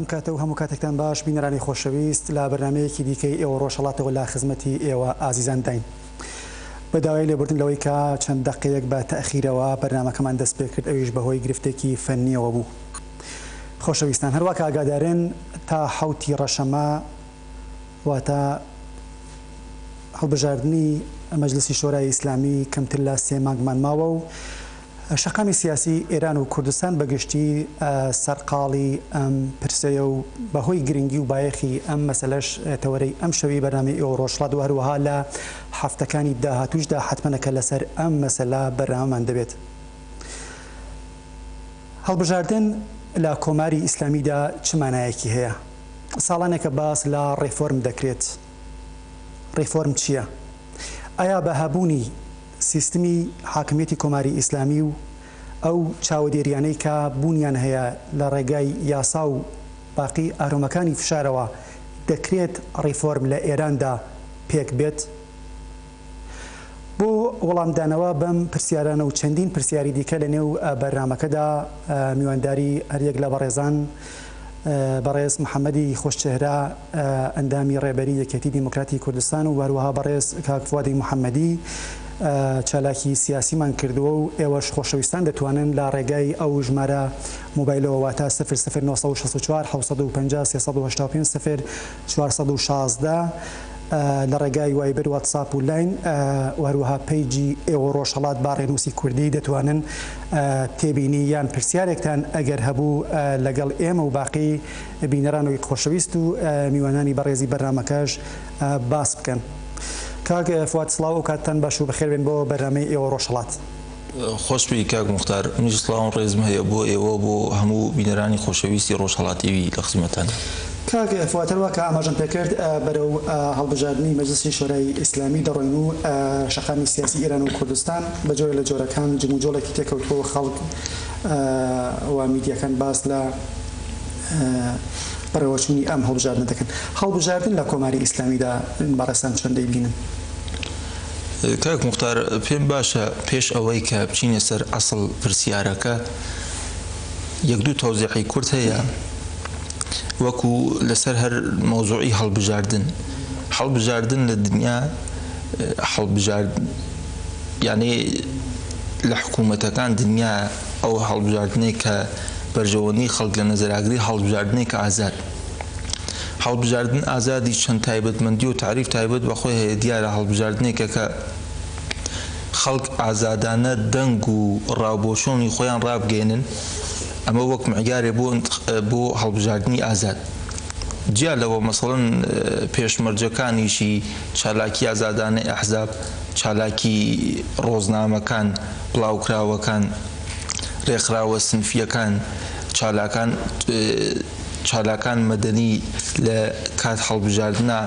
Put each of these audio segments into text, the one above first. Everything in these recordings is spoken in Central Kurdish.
ئەم کاتە و هەموو کاتێکتان باش بینەرانی خۆشەویست لا بەرنمەیەکی دیکەی ئێوە ڕۆژەڵاتەوە لا خزمەتی ئێوە ئازیزان داین بە داوای لێبوردن لەوەی کە چەند دەقەیەک بە تەخیرەوە بەرنمەکەمان دەست پێ کرد ئەویش بەهۆی گرفتێکی فەنیەوە بوو خۆشەویستان هەروە کاگادارێن تا حوتی ڕەشەمە واتە هەڵبژاردنی مەجلسی شۆرای ئیسلامی کەمتر لە سێ مانگمان ماوە و شەقامی سیاسی ئێران و کوردستان بە گشتی سەرقاڵی ئەم پرسەیە و بە هۆی گرنگی و بایەخی ئەم مەسەلەش تەوەرەی ئەم شەوی بەرنامەی ئێوە ڕۆژهەڵات و هەروەها لە هەفتەکانی داهاتووشدا حەتمەنەکە لەسەر ئەم مەسەلە بەرنامەمان دەبێت. هەڵبژاردن لە کۆماری ئیسلامیدا چ مانایەکی هەیە؟ ساڵانێکە باس لە ڕێفۆرم دەکرێت، ڕێفۆرم چییە؟ ئایا بە هەبوونی سیستمی حاکمیەتی کۆماری ئیسلامی و ئەو چاوەدێریانەی کە بوونیان هەیە لە ڕێگای یاسا و باقی ئارۆمەکانی فشارەوە دەکرێت ڕێفۆرم لە ئێراندا پێک بێت؟ بۆ وەڵامدانەوە بەم پرسیارانە و چەندین پرسیاری دیکە لە نێو بەرنامەکەدا میوانداری هەریەک لە بەڕێزان بەڕێز محەمەدی خۆشچهرە ئەندامی ڕێبەری یەکێتی دیموکراتی کوردستان و هەروەها بەڕێز کاک فوادی محەمەدی چالاکی سیاسیمان کردووە و ئێوەش خۆشەویستان دەتوانن لە ڕێگای ئەو ژمارە موبایلەوە واتا 0964 750 385 سفر چوار سەد و شازدە، لە ڕێگای وایبر، واتساپ و لاین و هەروەها پەیجی ئێوە ڕۆژهەڵات با ڕێنووسی کوردی دەتوانن تێبینی یان پرسیارێکتان ئەگەر هەبوو لەگەڵ ئێمە و باقی بینەرانوی خۆشەویست و میوانانی بەڕێزی بەرنامەکەش باس بکەن. کاک فواد سڵاو ئەوکاتتان باش و بەخێربێن بۆ بەرنامەی ئێوە ڕۆژهەڵات. خۆشبی کاک موختار منیش سڵاوم ڕێزم هەیە بۆ ئێوە و بۆ هەموو بینەرانی خۆشەویستی ڕۆژهەڵات تیڤی لە خزمەتتانین. کاک فواد هەروەک کە ئاماژەم پێکرد بەرەو هەڵبژاردنی مەجلسی شۆرای ئیسلامی دەڕۆین و شەقامی سیاسی ئێران و کوردستان بە جۆرێک لە جۆرەکان جموجۆڵێکی تێکەوتووە و خەڵک و میدیاکان باس لە بەڕێوەچوونی ئەم هەڵبژاردنە دەکەن. هەڵبژاردن لە کۆماری ئیسلامیدا بەڕێزتان چۆن دەیبینن؟ کاک موختار پێم باشە پێش ئەوەی کە بچینە سەر ئەسڵ پرسیارەکە یەک دوو تەوزیحی کورت هەیە وەکو لەسەر هەر مەوزوعی هەڵبژاردن هەڵبژاردن لە دنیا هەڵبژارد یانێ لە حکوومەتەکان دنیا ئەو هەڵبژاردنەی کە بەرژەوەندی خەڵک لە نەزەراگری هەڵبژاردنێکە ئازاد. هەڵبژاردن ئازادی چەند تایبەتمەندی و تەعریف تایبەت بە خۆی هەیە، دیارە هەڵبژاردنێکە کە خەڵک ئازادانە دەنگ و ڕا و بۆچوونی خۆیان ڕابگەیەنن، ئەمە وەک معیارێ بۆ بۆ هەڵبژاردنی ئازاد. جیا لەوە مەسەڵەن پێشمەرجەکانیشی چالاکی ئازادانەی ئەحزاب، چالاکی ڕۆزنامەکان، بڵاوکراوەکان، ڕێکخراوە سنفییەکان، چالاکان، چالاکان مەدەنی لە کات هەڵبژاردنا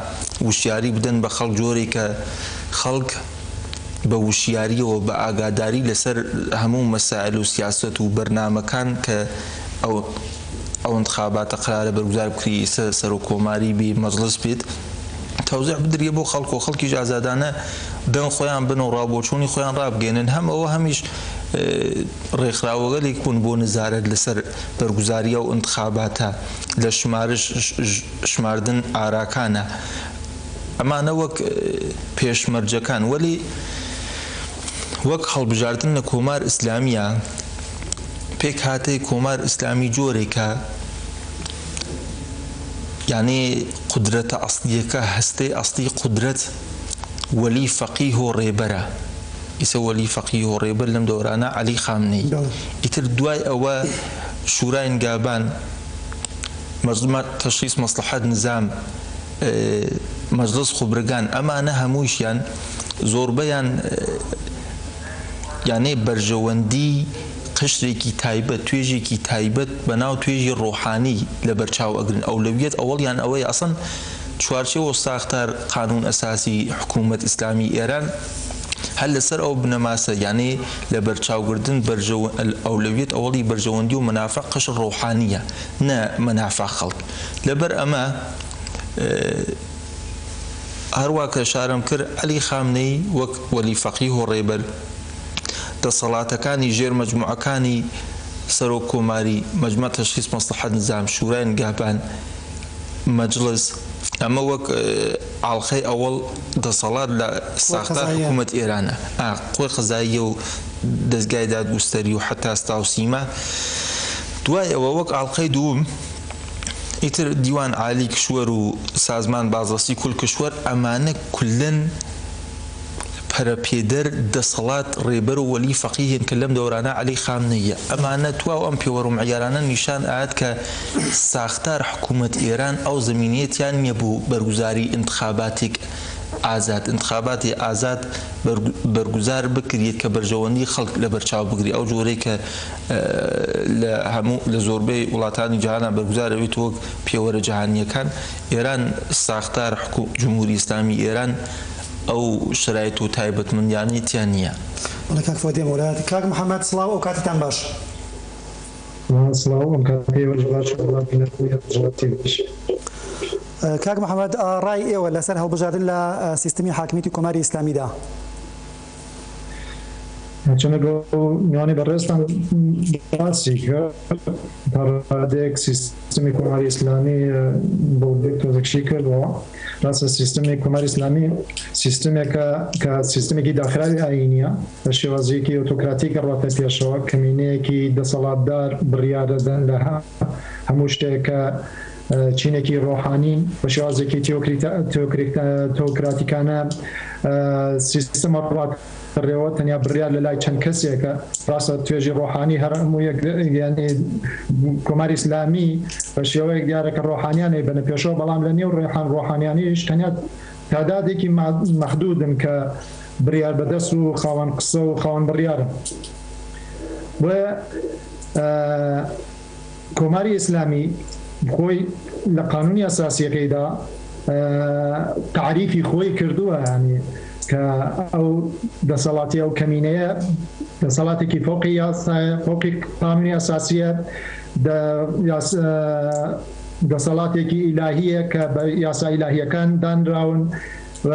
وشیاری بدەن بە خەڵک جۆرێک کە خەڵک بە وشیاریەوە بە ئاگاداری لەسەر هەموو مەسایل و سیاسەت و بەرنامەکان کە ئەو ئەنتخاباتە قەرارە بەرگزار بکری سە سەرۆک کۆماری بی مەجڵس بیت تەوزیع بدریە بۆ خەڵک و خەڵکیش ئازادانە دەنگ خۆیان بن و ڕابۆچوونی خۆیان ڕابگەێنن هەم ئەوە هەمیش ڕێکخراوەگەلێک بوون بۆ نزارەت لەسەر بەرگوزاری ئەو ئنتخاباتە لە شمارش شماردن ئاراکانە ئەمانە وەک پێشمەرجەکان وەلی وەک هەڵبژاردن لە کۆمار ئیسلامیە پێکهاتەی کۆمار ئیسلامی جۆرێکە یانی قودرەتە ئەسڵیەکە هەستەی ئەسڵی قودرەت وەلی فەقیه و ڕێبەرە، ئیسە وەلی فەقیه و ڕێبەر لەم دەورانە عەلی خامنەیی، ئیتر دوای ئەوە شورای نگابان، مجلمە تشخیص مصلحەت نزام، مجلس خبرگان ئەمانە هەموویشیان زۆربەیان یانێ بەرژەوەندی قشرێکی تایبەت، توێژێکی تایبەت بەناو توێژی ڕۆحانی لەبەرچاو ئەگرن، ئەولەویەت ئەوەڵیان ئەوەیە ئەسڵەن، چوارچێوەو ساختار قانون اساسی حکومەت اسلامی ایران هەر لەسەر ئەو بنەماسە یانێ لەبەرچاوگردن بەرژەوە اولویت اولی بەرژەوەندی و منافع قشر روحانیە نە منافع خەڵک لەبەر ئەمە هەروا کە شارەمکر علی خامنەی وەک وەلی فەقیه و رێبەر دەسەڵاتەکانی ژێر مەجموعەکانی سەرۆک کۆماری مجمع تشخیص مصلحت نظام شورای نگهبان مەجڵس ئەمە وەک ئاڵقەی ئەوەڵ دەسەڵات لە ساختار حکوومەت ئێرانە ئا قوی قەزاییە و دەزگای دادگوستەری و حەتا ستا و سیما دوای ئەوە وەک ئاڵقەی دووم ئیتر دیوان عالی کشوەر و سازمان بازرسی کل کشوەر ئەمانە کلەن پەرەپێدەر دەسەڵات ڕێبەر و وەلی فەقیهن کە لەم دەورانە عەلی خامنەییە ئەمانە تواو ئەم پێوەرو معیارانە نیشان ئەات کە ساختار حکومەت ئێران ئەو زەمینەیە تیا نیە بۆ بەرگوزاری ئینتخاباتێک ئازاد ئینتخاباتی ئازاد بەرگوزار بکریت کە بەرژەوەندی خەڵک لەبەرچاو بگری ئەو جۆرەی کە لە هەموو لە زۆربەی وڵاتانی جیهانا بەرگوزار ئەبێت وەک پێوەرە جیهانیەکان ئێران ساختار حکوم جمهوری ئیسلامی ئێران ئەو شەرایت و تایبەتمەندیانەی تیا نییە. بەڵێ کاک فواد دێمە وەلایەت. کاک محمد سڵاو ئەو کاتەتان باش. سڵاو ئەم کاتەی ئێوەش باشە بەڵام بینەر بوونی هەڵبژارد تێک دەشێ. کاک محمد ڕای ئێوە لەسەر هەڵبژاردن لە سیستمی حاکمیەتی کۆماری ئیسلامیدا. هەرچەندە گۆڤاری بەڕێزتان باسی کرد تا ڕادەیەک سیستمی کۆماری ئیسلامی بەڵگەی تۆزێک شی کردەوە ڕاستە سیستمی کۆماری ئیسلامی سیستمێکە کە سیستمێکی داخراوی ئاینیە بە شێوازێکی ئۆتۆکراتی کە ڕاتە پێشەوە کەمینەیەکی دەسەڵاتدار بڕیاردەدەن لە هەموو شتێکە چینێکی ڕۆحانی بە شێوازێکی تیۆکراتیکانە سیستمە ڕات ڕێوە تەنیا بڕیار لە لای چەند کەسێکە ڕاستە توێژی ڕۆحانی هەر هەموو یەکگەیانی کۆماری ئسلامی بە شێوەیەک دیارەکە ڕۆحانیانەی بەە پێشەوە بەڵام لە نێو ڕێحان ڕۆحانیانیش تەنیا تادادێکی مەحدودن کە بڕیار بەدەست و خاوەن قسە و خاوەن بڕیارە بۆیە کۆماری ئیسلامی خۆی لە قانونی ئەساسیەکەیدا تەعریفی خۆی کردووە یانی کە ئەو دەسەڵاتی ئەو کەمینەیە دەسەڵاتێکی فۆقی یاسایە فۆقی قانونی ئەساسیە دەسەڵاتێکی ئیلاهیە کە بە یاسا ئیلاهیەکان دانراون و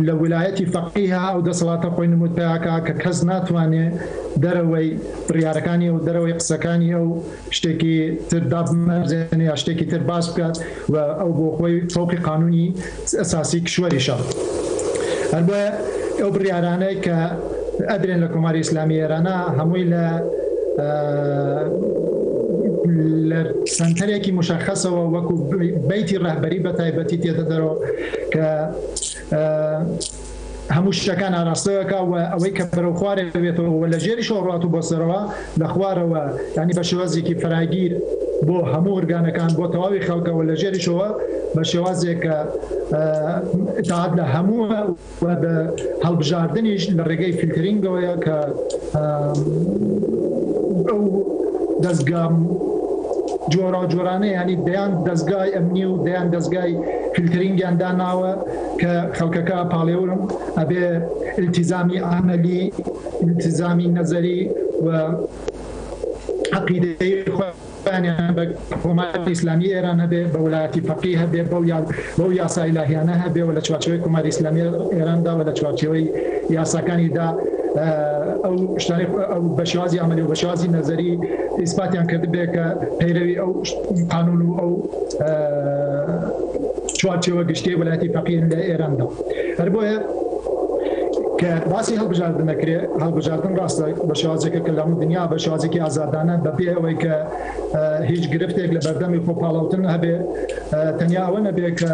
لە ولایەتی فەقیهە ئەو دەسەڵاتە خۆی نموت پێاکا کە کەس ناتوانێ دەرەوەی بڕیارەکانی ئەو دەرەوەی قسەکانی ئەو شتێکی تر دابمەرزێنێ یا شتێکی تر باس بکات و ئەو بۆ خۆی فەوقی قانونی ئەساسی کشوەریشە هەر بۆیە ئەو بڕیارانەی کە ئەدرێن لە کۆماری ئیسلامی ئێرانە هەمووی لە لە سنتەرێکی مشخصەوە وەکو بیتی ڕهبەری بە تایبەتی تێدە دەرەوە کە هەموو شتەکان ئاراستەکە و ئەوەی کە بەرەو خوارێ بێتەوە لە ژێری شۆڕات و بۆ سەرەوە لە خوارەوە ینی بە شێوازێکی فراگیر بۆ هەموو ورگانەکان بۆ تەواوی خەڵکەوە لە ژێریشەوە بە شێوازێک کە تاعات لە هەموو و هەڵبژاردنیش لە ڕێگەی فیلتەرینگەوەیە کە ئەو دەستگا جۆرا جۆرانە ینی دەیان دەستگای ئەمنی و دەیان دەستگای فیلترینگیان داناوە کە خەڵکەکە پاڵێورم ئەبێ التیزامی ئامەلی التیزامی نەزەری و عقیدەی پەیوەندییان بە کۆماری ئیسلامیی ئێران هەبێ، بە وەلایەتی فەقیه هەبێ، بەو یاسا ئیلاهییانە هەبێ و لە چوارچێوەی کۆماری ئیسلامیی ئێراندا و لە چوارچێوەی یاساکانیدا ئەو شتانەی بە شێوازی عەمەلی و بە شێوازی نەزەری ئیسپاتیان کردبێ کە پەیرەوی ئەو قانوون و ئەو چوارچێوە گشتییەی وەلایەتی فەقیه لە ئێراندا هەر بۆیە کە باسی هەڵبژاردن نەکرێ هەڵبژاردن ڕاستە بە شێوازێکە کە لەمو دنیا بە شوازێکی ئازادانە بەبێ ئەوەی کە هیچ گرفتێک لە بەردەمی خۆپاڵاوتن هەبێ تەنیا ئەوە نەبێ کە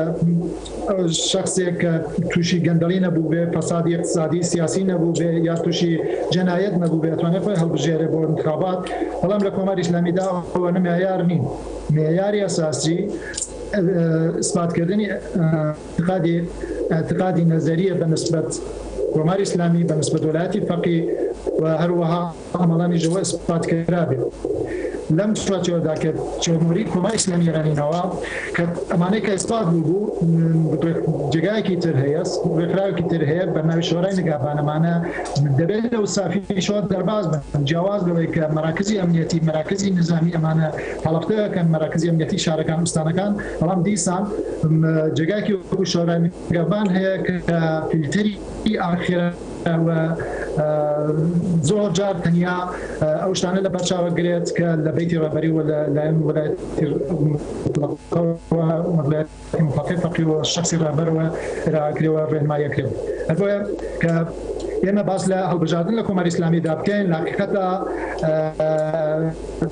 شخصێک کە تووشی گەندەڵی نەبوو بێ فەسادی اقتصادی سیاسی نەبوو بێ یا تووشی جەنایەت نەبوو بێ توانێت خۆی هەڵبژێرە بۆ انتخابات بەڵام لە کۆماری ئسلامیدا ئەوە نمایار نین معیاری ئەساسی اثباتکردنی ئیتقادی، اعتقادی نەزەریە بە نسبەت کۆماری ئیسلامی، بە نسبەت وەلایەتی فەقی و هەروەها ئاماڵانی ژەوە ئیسقات کرابێ. لەم چوارچێوەدا کە چۆنۆری کۆماری ئیسلامی ئێرانی نەوە کە ئەمانەی کە ئیسقات بووبوو جێگایەکی تر هەیە، ڕێکخراوێکی تر هەیە بە ناوی شۆرای نگابان ئەمانە دەبێت لە وسافیشەوە دەرباز بن جیاواز لەوەی کە مەراکزی ئەمنیەتی مەراکزی نزامی ئەمانە هەڵەفتەکەن مەراکزی ئەمنیەتی شارەکان ئوستانەکان بەڵام دیسان جێگایەکی وەکو شۆرای نیگەڤان هەیە کە فیلتەری ئاخێرە و زۆر جار تەنیا ئەو شتانە لە بەرچاوە گرێت کە لە بەیتی ڕابەری وە لە لایەن وەلایەتی فەقیەوە شخصی ڕابەرەوە راکرێەوە ڕێنمایە کرێت هەبە کە ئێمە باس لە هەڵبژاردن لە کۆماری ئسلامیدا بکەین لاقیقەتە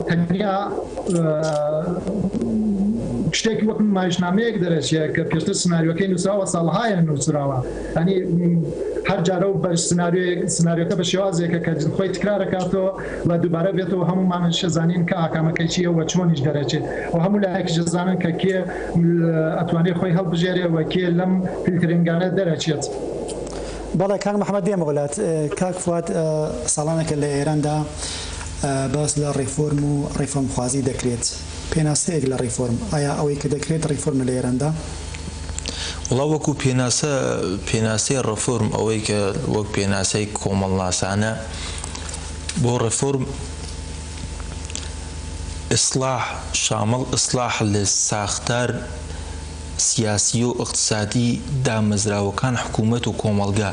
تەنیا شتێکی وەک نمایشنامەیەک دەرەچێت کە پێشتر سناریۆکەی نووسراوە ساڵهایە نووسراوە ئەنی هەر جارە و بە سناریۆیەک سناریۆکە بە شێوازێکە کە خۆی تکرارەکاتەوە و دووبارە بێتەوە هەمومان شەزانین کە ئاکامەکەی چیە وە چۆنیش دەرەچێت و هەموو لایەکی جزانن کە کێ ئەتوانێت خۆی هەڵبژێرێ وە کێ لەم فیلترنگانە دەرەچێت. بەڵێ کاک محمد دێمە وڵات کاک فات ساڵانێکە لە ئێراندا باس لە ڕێفۆرم و ڕێفۆرمخوازی دەکرێت، پێناسەیەک لە ڕێفۆرم، ئایا ئەوەی کە دەکرێت ڕێفۆرمە لە ئێراندا؟ وڵا وەکو پێناسە، پێناسەی ڕێفۆرم ئەوەی کە وەک پێناسەی کۆمەڵناسانە بۆ ڕێفۆرم، ئیسڵاح شامڵ ئیسڵاح لە ساختار سیاسیی و ئیقتسادیی دامەزراوەکان، حکوومەت و کۆمەڵگە.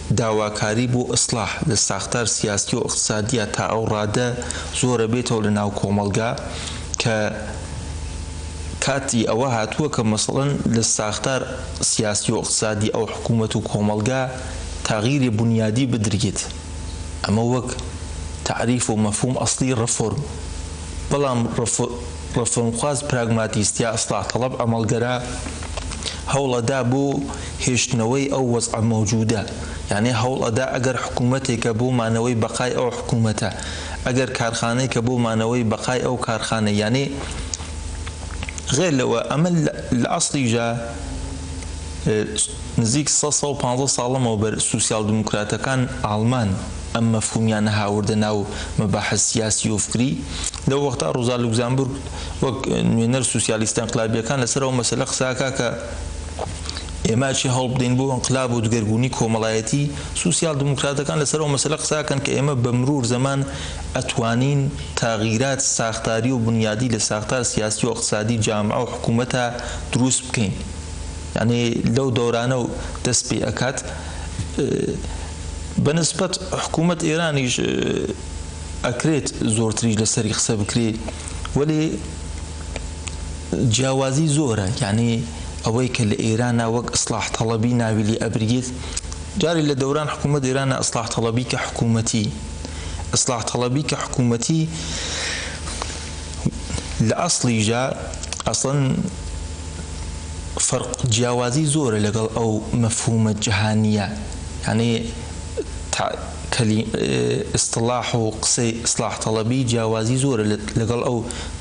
داواکاری بۆ ئیسلاح لە ساختار سیاسی و ئیقتسادیا تا ئەو ڕادە زۆرە بێتەوە لە ناو کۆمەڵگا کە کاتی ئەوە هاتووە کە مەسەڵەن لە ساختار سیاسی و ئیقتسادی ئەو حکوومەت و کۆمەڵگا تەغیری بونیادی بدریت ئەمە وەک تەعریف و مەفهووم ئەسڵی ڕفۆرم بەڵام ڕفۆرمخواز پراگماتیست یا ئیسلاح تەڵەب ئەمەڵگەرا هەوڵەدا بۆ هێشتنەوەی ئەو وەزعە مەوجودە یانێ هەوڵ ئەدا ئەگەر حکوومەتێکە بۆ مانەوەی بەقای ئەو حکوومەتە ئەگەر کارخانەیکە بۆ مانەوەی بەقای ئەو کارخانە یانێ غەیر لەوە ئەمە لە ئەسڵی جا نزیک سەد سەد و پانزە ساڵ لەمەوبەر سوسیال دیموکراتەکان ئاڵمان ئەم مەفهوومیانە هاوردە ناو مەباحس سیاسی و فکری لەو وەختا ڕۆزا لوکزامبورگ وەک نوێنەر سوسیالیستە ئینقلابییەکان لەسەر ئەو مەسەلە قسە ئەکا کە ئێمە چی هەوڵبدەین بۆ ئینقلاب و دگەرگونی کۆمەڵایەتی، سوسیال دموکراتەکان لەسەر ئەو مەسەلە قساکەن کە ئێمە بە مرور زەمان ئەتوانین تاغیرات ساختاری و بنیادی لە ساختار سیاسی و ئەقتسادی جامعە و حکومەتا دروست بکەین یانی لەو دەورانە و دەست پی ئەکات بە نسبەت حکومەت ئێرانیش ئەکرێت زۆرتریش لەسەری قسە بکرێ وەلی جیاوازی زۆرە یانی ئەوەی کە لە ئێرانا وەک ئیسڵاح تەڵەبی ناوی لێ ئەبریت جارێ لە دەوران حکوومەت ئێرانا ئیسڵاح تەڵەبی کە حکوومەتی ئیسڵاح تەڵەبی کە حکوومەتی لە ئەسڵیژا ئەسڵەن فەرق جیاوازی زۆرە لەگەڵ ئەو مەفهوومە جەهانییە یانی ئیستلاح و قسەی ئیستلاح تەڵەبی جیاوازی زۆرە لەگەڵ ئەو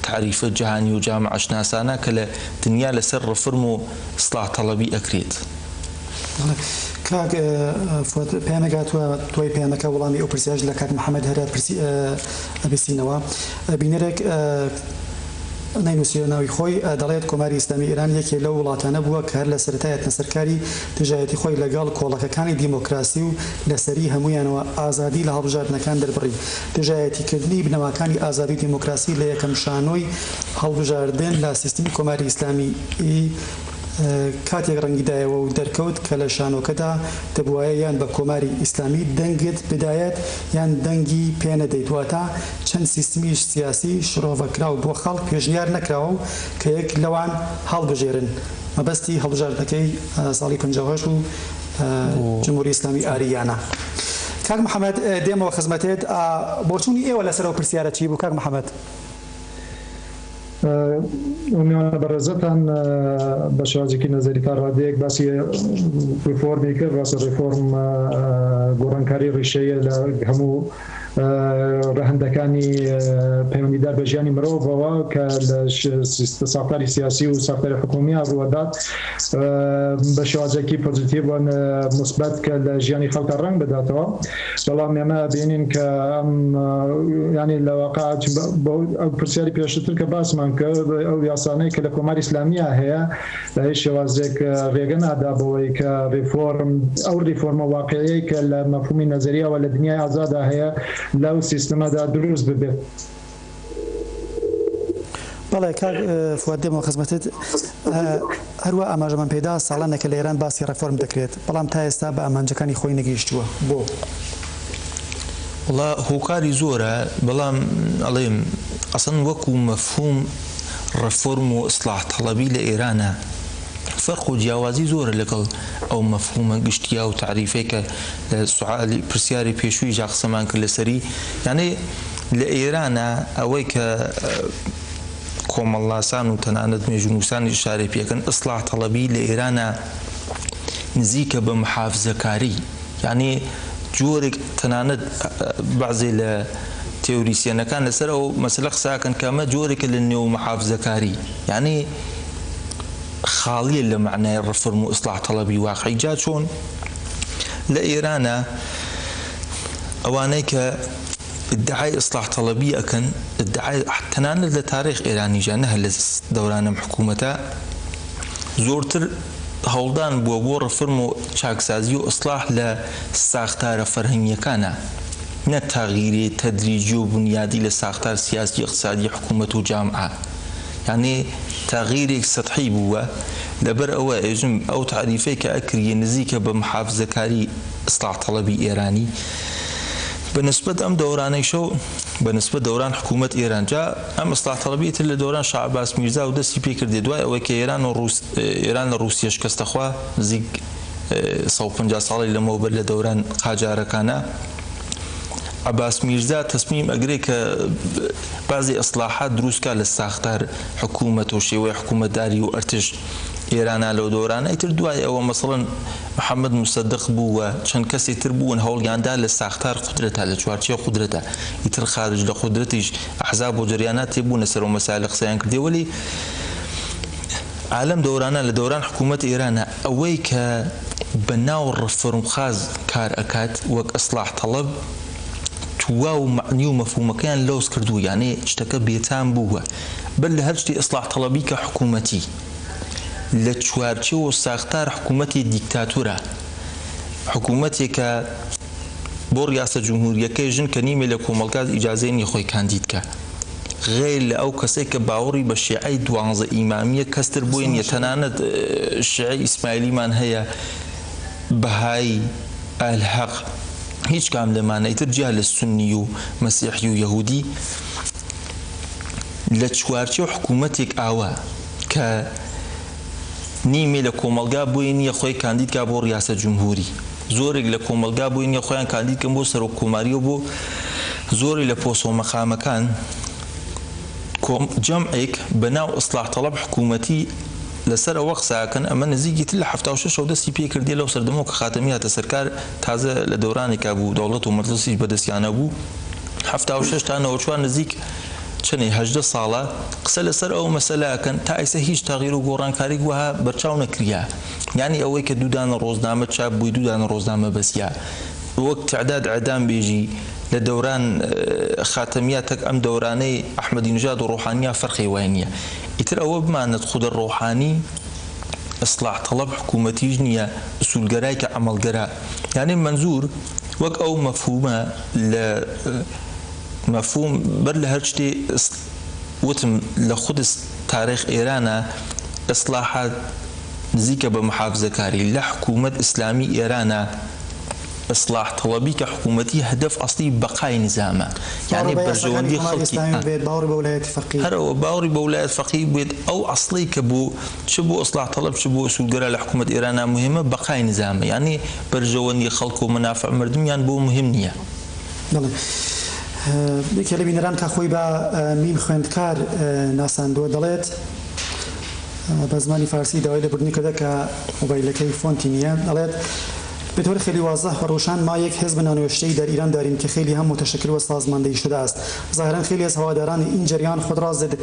تەعریفە جەهانی و جامعە شناسانە کە لە دنیا لەسەر ڕفرم و ئیستلاح تەڵەبی ئەکرێت. بەڵێ کاک فواد پەیامێک هاتوە دوای پەیامەکە وەڵامی ئەو پرسیارەش لە کاک محمد هەرە پرسی ئەبیستینەوە بینەرێک. نەینوسیوە ناوی خۆی، دەڵێت کۆماری ئیسلامی ئێران یەکێ لەو وڵاتانە بووە کە هەر لە سەرەتا هێتنە سەر کاری دژایەتی خۆی لە گەڵ کۆڵەکەکانی دیمۆکراسی و لە سەری هەموویانەوە ئازادی لە هەڵبژاردنەکان دەربڕی. دژایەتی کردنی بنەماکانی ئازادی و دیمۆکراسی لە یەکەم شانۆی هەڵبژاردن لە سیستمی کۆماری ئیسلامیی، کاتێک ڕەنگی دایەوە و دەرکەوت کە لە شانۆکەدا دەبوایە یان بە کۆماری ئیسلامی دەنگت بدایەت یان دەنگی پێ نەدەیت واتە چەند سیستمی سیاسی شڕۆڤەکراو بۆ خەڵک پێشنیار نەکراوە و کە یەک لەوان هەڵبژێرن مەبەستی هەڵبژاردنەکەی ساڵی پەنجا و هەشت و جمهوری ئیسلامی ئارییانە کاک محەمەد دێمەوە خزمەتێت بۆچوونی ئێوە لەسەر ئەو پرسیارە چی بوو کاک محەمەد؟ میوانە بەڕێزەتان بە شازێکی نەزەری تا ڕادەیەک باسی ریفۆرمی کرد ڕاستە ریفۆرم گۆڕانکاری ڕیشەیە لە هەموو ڕەهندەکانی پەیوەندیدار بە ژیانی مرۆڤەوە کە لە ساختاری سیاسی و ساختاری حکومیە ڕوەدات بە شازێکی پۆزیتیڤ مثبت کە لە ژیانی خەڵکە ڕنگ بداتەوە بەڵام ئێمە ئەبینین کە ئەم ینی لە واقع ئەو پرسیاری پێشتر کە باسمان کرد ئەو یاسانەی کە لە کۆماری ئسلامیا هەیە لە هیچ شێوازێک ڕێگە نادا بەوەی کە ڕیفۆرم ئەو ڕیفۆرمە واقعەیە کە لە مەفهومی نەزەریاوە لە دنیای ئازادا هەیە لەو سیستمەدا دروست ببێت. بەڵێ کاک فواد دێمەوە خزمەتت هەروە ئاماژەمان پێدا ساڵانێکە لە ئێران باسی ڕێفۆرم دەکرێت بەڵام تا ئێستا بە ئامانجەکانی خۆی نەگەیشتووە بۆ وڵا هۆکاری زۆرە بەڵام ئەڵێم ئەسن وەکو مەفهوم ڕێفۆرم و ئیسلاح تەڵەبی لە ئێرانە فەرق و جیاوازی زۆرە لەگەڵ ئەو مەفهومە گشتیا و تعریفێکە لە سوعالی پرسیاری پێشووی جا قسەمان کرد لەسەری یانەی لە ئێرانە ئەوەی کە کۆمەڵناسان و تەنانەت مێژوونووسانیش ئیشارەی پێ ئەکەن، ئیسڵاح تەڵەبی لە ئێرانە نزیکە بە محافزەکاری. یانی جۆرێک تەنانەت بەعزێ لە تێوریسیەنەکان لە سەر ئەو مەسەلە قسە ئەکەن کە ئەمە جۆرێکە لە نێومحافزەکاری. یانی خاڵیە لە مەعنای ڕفرم و ئیسڵاح تەڵەبی واقعی. جا چۆن لە ئێرانە ئەوانەی کە. ئیدعای ئیسلاح تەڵەبی ئەکەن ئیدعای تەنانەت لە تاریخ ئێرانیشا نە هەر لە دەوران ئەم حکوومەتە زۆرتر هەوڵدان بووە بۆ ڕفرم و چاکسازی و ئیسلاح لە ساختارە فەرهەنگییەکانا نە تەغیری تەدریجی و بونیادی لە ساختار سیاسی ئیقتسادی حکوومەت و جامعە یانی تەغیرێک سەتحی بووە لەبەر ئەوە ئێژم ئەو تاریفەی کە ئەکریێ نزیکە بە محافزەکاری ئیسلاح تەڵەبی ئێرانی بە نسبەت ئەم دەورانەیشە و بە نسبەت دەوران حکوومەت ئێران جا ئەم ئیسلاح تەڵەبیە تر لە دەوران شا عەباس میرزا و دەستی پێ کردێ دوای ئەوەی کە ئێران و ڕووس ئێران لە ڕووسیە شکەستە خوا نزیک سەد و پەنجا ساڵی لەمەو بەر لە دەوران قاجارەکانە عباس میرزا تەسمیم ئەگرێ کە بازی ئەسلاحات دروستکە لە ساختار حکوومەت و شێوەی حکوومەتداری و ئەرتش ئێرانا لەو دۆرانە ئیتر دوای ئەوە مەسەڵەن محمد موسەدق بوو و چەند کەسی تر بوون هەوڵیان دا لە ساختار قودرەتا لە چوارچێوەی قودرەتا ئیتر خارج لە قودرەتیش ئەحزاب و جەریانات تێبوونە سەر ئەو مەسایلە قسەیان کردیە وەلی ئالەم دۆرانە لە دەوران حکوومەت ئێرانا ئەوەی کە بە ناو ڕفۆرمخاز کار ئەکات وەک ئسڵاح تەڵەب تواو مەعنی و مەفهوومەکەیان لۆس کردوو یانێ شتەکە بێتام بووە. بەر لە هەر شتێ ئیسلاح تەڵەبی کە حکوومەتی لە چوارچێوە و ساختار حکوومەتی دیکتاتورە، حکوومەتێکە بۆ ڕیاسە جمهورییەکەی ژن کە نیمێ لە کۆمەڵگا ئیجازەی نییە خۆی کاندید کا، غەیر لە ئەو کەسەی کە باوەڕی بە شێعەی دوانزە ئیمامییە کەس تر بۆی نییە، تەنانەت شێعەی ئیسماعیلیمان هەیە، بەهایی، ئەهل حەق، هیچ کام لەمانە، ئیتر جیا لە سوننی و مەسیحی و یەهوودی. لە چوارچێو حکوومەتێک ئاوا کە نیمێ لە کۆمەڵگا بۆی نییە خۆی کاندید کا بۆ ڕیاسە جمهوری زۆرێک لە کۆمەلگا بۆی نیە خۆیان کاندید کەم بۆ سەرۆک کۆماریەوە بۆ زۆری لە پۆسۆ مەقامەکان جەمعێک بە ناو ئەسلاح تەڵەب حکوومەتی لەسەر ئەوە قساکەن ئەمە نزیکی تر لە ه شەو دەستی پێ کردی لەو سەردەمەوە کە خاتەمی هاتە سەرکار تازە لە دەورانێکا بوو دەوڵەت و مەجلسیش بەدەستیانە بوو حەفتا و شەش تا نەوەد و چوار نزیک چەنی هەژدە ساڵە قسە لەسەر ئەو مەسەلاکەن تا ئیسە هیچ تەغیر و گۆڕانکاریک وەها بەرچاو نەکریا یانی ئەوەی کە دوودانە ڕۆزنامە چاپ بووی دوودانە ڕۆزنامە بەسیا وەک تعداد عدام بێژی لە دەوران خاتەمیا تەک ئەم دەورانەی ئەحمەدی نژاد و ڕۆحانیا فەرقی وای نییە ئیتر ئەوە بمانەت خودە ڕۆحانی ئیسڵاح تەڵەب حکوومەتیش نییە ئسولگەرای کە عەمەڵگەرا یانی مەنزور وەک ئەو مەفهوومە لە مەفهوم بەر لە هەر شتێ وتم لە قودس تارێخ ئێرانە ئێسڵاحات نزیکە بە محافزەکاری لە حکوومەت ئیسلامی ئێرانە ئێسڵاح تەڵەبی کە حکوومەتی هەدەف ئەسڵی بەقای نیزامە یانێ بەرژەوەندی خەڵکی هەرەوە باوەڕی بە ولایەت فەقیه بوێت ئەو ئەسڵی کە بوو چ بۆ ئیسلاح تەڵەب چ بۆ ئوسول گەرا لە حکوومەت ئێرانا موهیمە بەقای نیزامە یانی بەرژەوەندی خەڵک و مەنافع مردمیان بۆ موهیم نییە. بەڵێ یەکێ لە بینەران کە خۆی بە مین خوێندکار ناساندووە دەڵێت بە زمانی فارسی داوای لێبوردنی کردە کە مۆبایلەکەی فۆنتی نییە دەڵێت، به طور خیلی واضح و روشن ما یک حزب نانوشتهی در ایران داریم که خیلی هم متشکل و سازماندهی شده است ظاهرا خیلی از هواداران این جریان خود را ضد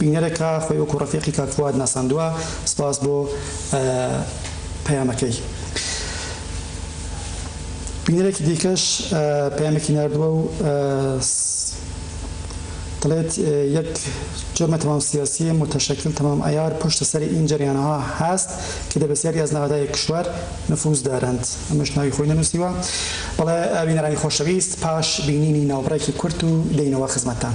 بینەرە کە خۆی وەکو ڕەفیقی کاک فواد ناساندوە سپاس بۆ پەیامەکەی بینەرێکی دیکەش پەیامێکی ناردوە و دەڵێت یەک جۆمە تەمام سیاسیە متشکل تەمام عیار پشت سەر این جەریانها هەست کە دە بەسیاری ئەز نەغەدای کشوەر نفوز دارند ئەمەش ناوی خۆی نەنوسیوە بەڵێ بینەرانی خۆشەویست پاش بینینی ناوبڕێکی کورت و دەینەوە خزمەتتان.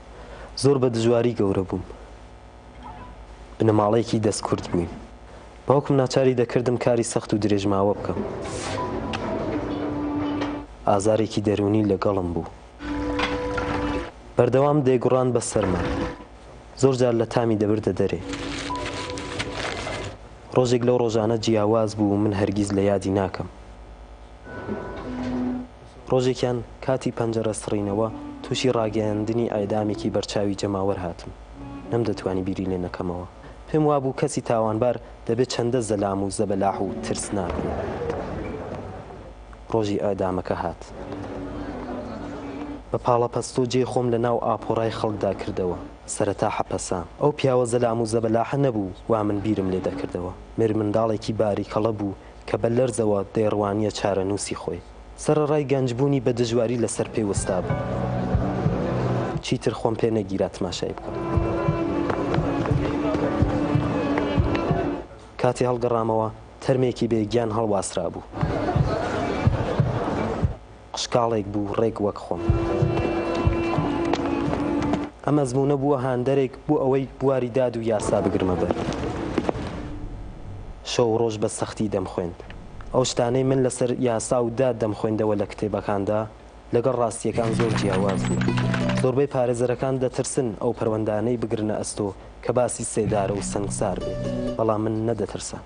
زۆر بە دژواری گەورە بووم. بنەماڵەیەکی دەستکورت بووین. باوکم ناچاری دەکردم کاری سەخت و درێژماوە بکەم. ئازارێکی دەروونی لەگەڵم بوو. بەردەوام دەیگوڕان بە سەرما. زۆر جار لە تامی دەبردە دەرێ. ڕۆژێک لەو ڕۆژانە جیاواز بوو من هەرگیز لە یادی ناکەم. ڕۆژێکیان کاتی پەنجەرە سڕینەوە تووشی ڕاگەیاندنی ئێعدامێکی بەرچاوی جەماوەر هاتم، نەمدەتوانی بیری لێ نەکەمەوە، پێم وابوو کەسی تاوانبار دەبێ چەندە زەلام و زەبەلاح و ترسناک بوو. ڕۆژی ئێعدامەکە هات. بە پاڵەپەستۆ جێی خۆم لە ناو ئاپۆرای خەڵکدا کردەوە. سەرەتا حەپەسام. ئەو پیاوە زەلام و زەبەلاحە نەبوو وا من بیرم لێ دەکردەوە. مێرمنداڵێکی باریکەڵە بوو کە بە لەرزەوە دەیڕوانییە چارەنووسی خۆی. سەرەڕای گەنجبوونی بە دژواری لەسەر پێ وەستابوو. چیتر خۆم پێ نەگیرا تماشای بکەم. کاتێ هەڵگەڕامەوە تەرمێکی بێ گیان هەڵواسرابوو. قشکاڵێک بوو ڕێک وەک خۆم. ئەم ئەزموونە بووە هاندەرێک بۆ ئەوەی بواری داد و یاسا بگرمە بەر. شەو و ڕۆژ بە سەختی دەمخوێند. ئەو شتانەی من لەسەر یاسا و داد دەمخوێندەوە لە کتێبەکاندا، لەگەڵ ڕاستییەکان زۆر جیاواز بوو. زۆربەی پارێزەرەکان دەترسن ئەو پەروەندانەی بگرنە ئەستۆ کە باسی سێدارە و سەنگسار بێت، بەڵام من نەدەترسام.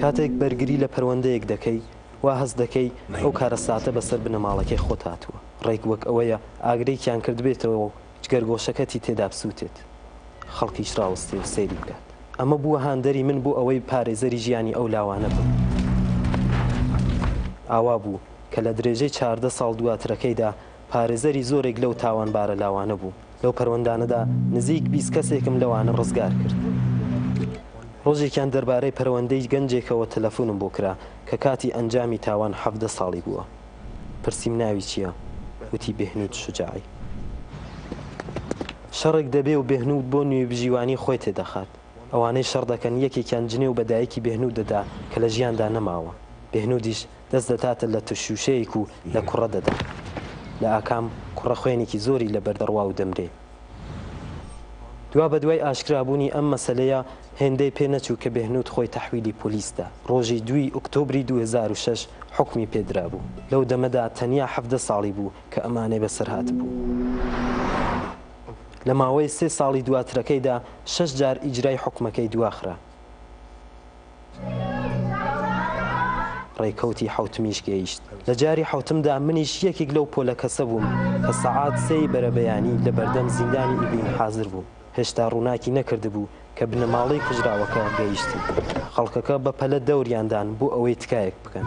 کاتێک بەرگری لە پەروەندەیەک دەکەی، وا هەست دەکەی ئەو کارەساتە بەسەر بنەماڵەکەی خۆت هاتووە، ڕێک وەک ئەوەیە ئاگرێکیان کردبێتەوە و جگەرگۆشەکەتی تێدا بسووتێت، خەڵکیش ڕاوەستێ و سەیری بکات. ئەمە بووە هاندەری من بۆ ئەوەی پارێزەری ژیانی ئەو لاوانە بم. ئاوا بوو کە لە درێژەی چاردە ساڵ دواترەکەیدا، پارێزەری زۆرێک لەو تاوانبارە لاوانە بوو. لەو پەروەندانەدا نزیک بیست کەسێکم لەوانە ڕزگار کرد. ڕۆژێکیان دەربارەی پەروەندەی گەنجێکەوە تەلەفونم بۆ کرا کە کاتی ئەنجامی تاوان حەڤدە ساڵی بووە. پرسیم ناوی چییە؟ وتی بێهنود شوجاعی. شەڕێک دەبێ و بێهنود بۆ نوێیبژیوانی خۆی تێدەخات. ئەوانەی شەڕ دەکەن یەکێکیان جنێو بە دایکی بێهنود دەدا کە لە ژیاندا نەماوە. بێهنودیش دەست دەداتە لە ترشوشەیەک و لە کوڕە دەدا. لە ئاکام کوڕە خوێنێکی زۆری لە بەر دەڕوا و دەمرێ. دوا بە دوای ئاشکرا بوونی ئەم مەسەلەیە هێندەی پێ نەچوو کە بێهنوود خۆی تەحویلی پۆلیس دا. ڕۆژی دووی ئوکتۆبری دوو هەزار و شەش حوکمی پێ درا بوو. لەو دەمەدا تەنیا حەڤدە ساڵی بوو کە ئەمانەی بە سەر هاتبوو. لە ماوەی سێ ساڵی دواترەکەیدا شەش جار ئیجرای حوکمەکەی دوا خرا. ڕێکەوتی حەوتمیش گەیشت. لە جاری حەوتمدا منیش یەکێک لەو پۆلە کەسە بووم کە سەعات سێی بەرەبەیانی لە بەردەم زیندانی ئیڤین حازر بووم. هێشتا ڕووناکی نەکردبوو کە بنەماڵەی کوژراوەکە گەیشتن. خەڵکەکە بە پەلە دەوریان دان بۆ ئەوەی تکایەک بکەن.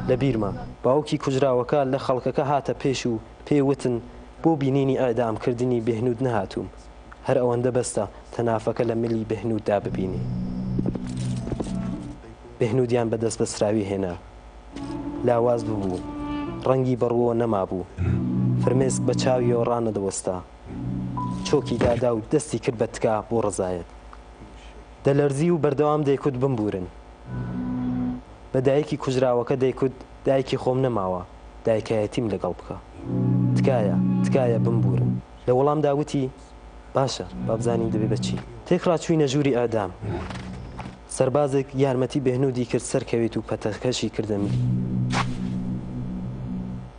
لە بیرمە باوکی کوژراوەکە لە خەڵکەکە هاتە پێش و پێی وتن، بۆ بینینی ئیعدام کردنی بێهنود نەهاتووم هەر ئەوەندە بەسە تەنافەکە لە ملی بێهنود دا ببینی بێهنودیان بە دەست بەسراوی هێنا لاواز ببوو ڕەنگی بە ڕووەوە نەمابوو فرمێسک بە چاویەوە ڕانەدەوەستا چۆکی دادا و دەستی کرد بە تکا بۆ ڕەزایەت دەلەرزی و بەردەوام دەیکوت بمبورن بە دایکی کوژراوەکە دەیکوت دایکی خۆم نەماوە دایکایەتیم لەگەڵ بکە تکایە تکایە بمبورن لە وەڵامدا وتی باشە با بزانین دەبێ بە چی تێکڕا چوینە ژوری ئیعدام سەربازێک یارمەتی بێهنودی کرد سەرکەوێت و پەتەکەشی کردە ملی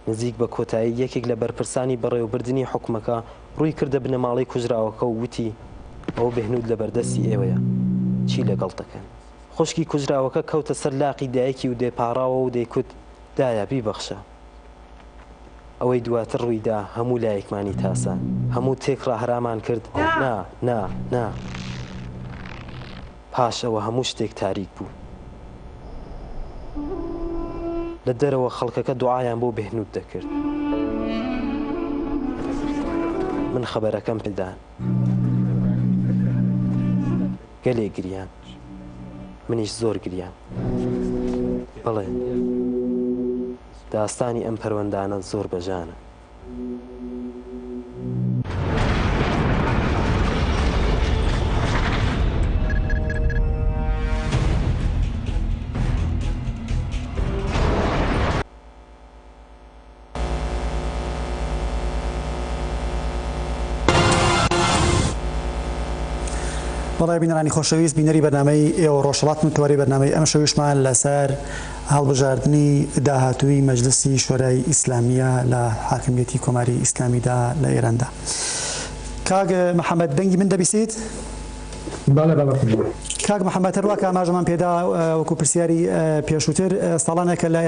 نزیک بە کۆتایی یەکێک لە بەرپرسانی بەڕێوەبردنی حکومەکە ڕووی کردە بنەماڵەی کوژراوەکە و وتی ئەوە بێهنود لەبەردەستی ئێوەیە چی لەگەڵ دەکەن. خوشکی کوژراوەکە کەوتە سەر لاقی دایکی و دەیپاڕاوە و دەیکوت، دایە، بیبەخشە. ئەوەی دواتر ڕووی دا هەموو لایەکمانی تاسا. هەموو تێک ڕاهرامان کرد، نا، نا، نا. پاش ئەوە هەموو شتێک تاریک بوو. لە دەرەوە خەڵکەکە دوعایان بۆ بێهنوود دەکرد. من خەبەرەکەم پێ دا. گەلێ گریان منیش زۆر گریام بڵێ داستانی ئەم پەروەندانە زۆر بەژانە بەڵێ بینەرانی خۆشەویست بینەری بەنامەی ئێوە ڕۆژڵات من تۆری بەنامەی ئەم شەویشمان لەسەر هەڵبژاردننی داهاتووی مەجلسی شۆرای ئیسلامیە لە حاکمیەتی کۆماری ئیسلامیدا لە ئێراندا کاگە محەممەد دەنگی من دەبیسیت؟ بەڵێ بەڵێ خوشبوو. کاک محمد هەر وا کە ئاماژەمان پێ دا وەکو پرسیاری پێشووتر ساڵانە کە لە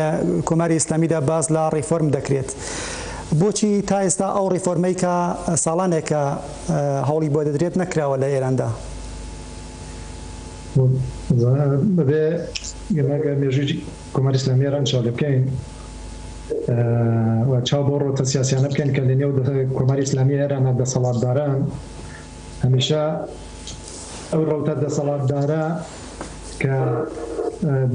کۆماری ئیسلامی دا باس لە ڕیفۆرم دەکرێت بۆچی تا ئێستا ئەو ڕیفۆرمەی کە ساڵانێکە هەوڵی بۆ دەدرێت نەکراوە لە ئێران دا؟ ئەبێ ئێمە گەر مێژووی کۆماری ئیسلامی ئێران چاو لێ بکەین و چاو بەو ڕەوتە سیاسیانە بکەین کە لە نێو کۆماری ئیسلامی ئێرانا دەسەڵاتداران هەمیشە ئەو ڕەوتە دەسەڵاتدارە کە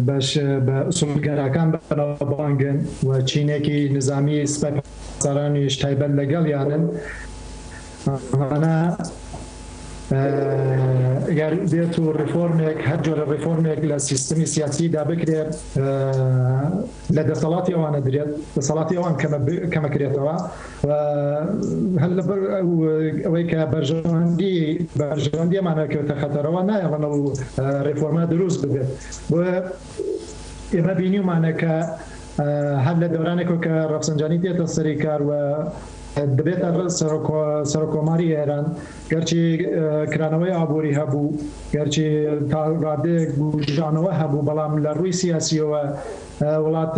بەش بە ئوسولگەراکان بەناوبانگن و چینێکی نظامی سپای پاسدارانیش تایبەت لەگەڵ یانن ئەمانە گەر بێت و ڕیفۆرمێک هەر جۆرە ڕیفۆرمێک لە سیستمی سیاسیدا بکرێت لە دەسەڵاتی ئەوانە درێت، دەسەڵاتی ئەوان کەمەکرێتەوە و هەر لەبەر ئەوەی کە بەرژەوەندی بەرژەوەندیمانە کەوتە خەتەرەوە نایەڵەنە و ڕێفۆرما دروست ببێت بۆ ئێمە بینیمانە کە هەر لە دەورانێکۆ کە ڕەفسەنجانی دێتە سەری کار و دەبێتە سەرۆکۆماری ئێران گەرچی کرانەوەی ئابووری هەبوو، گەرچی تا ڕادەیەک بووژانەوە هەبوو، بەڵام لە ڕووی سیاسییەوە وڵات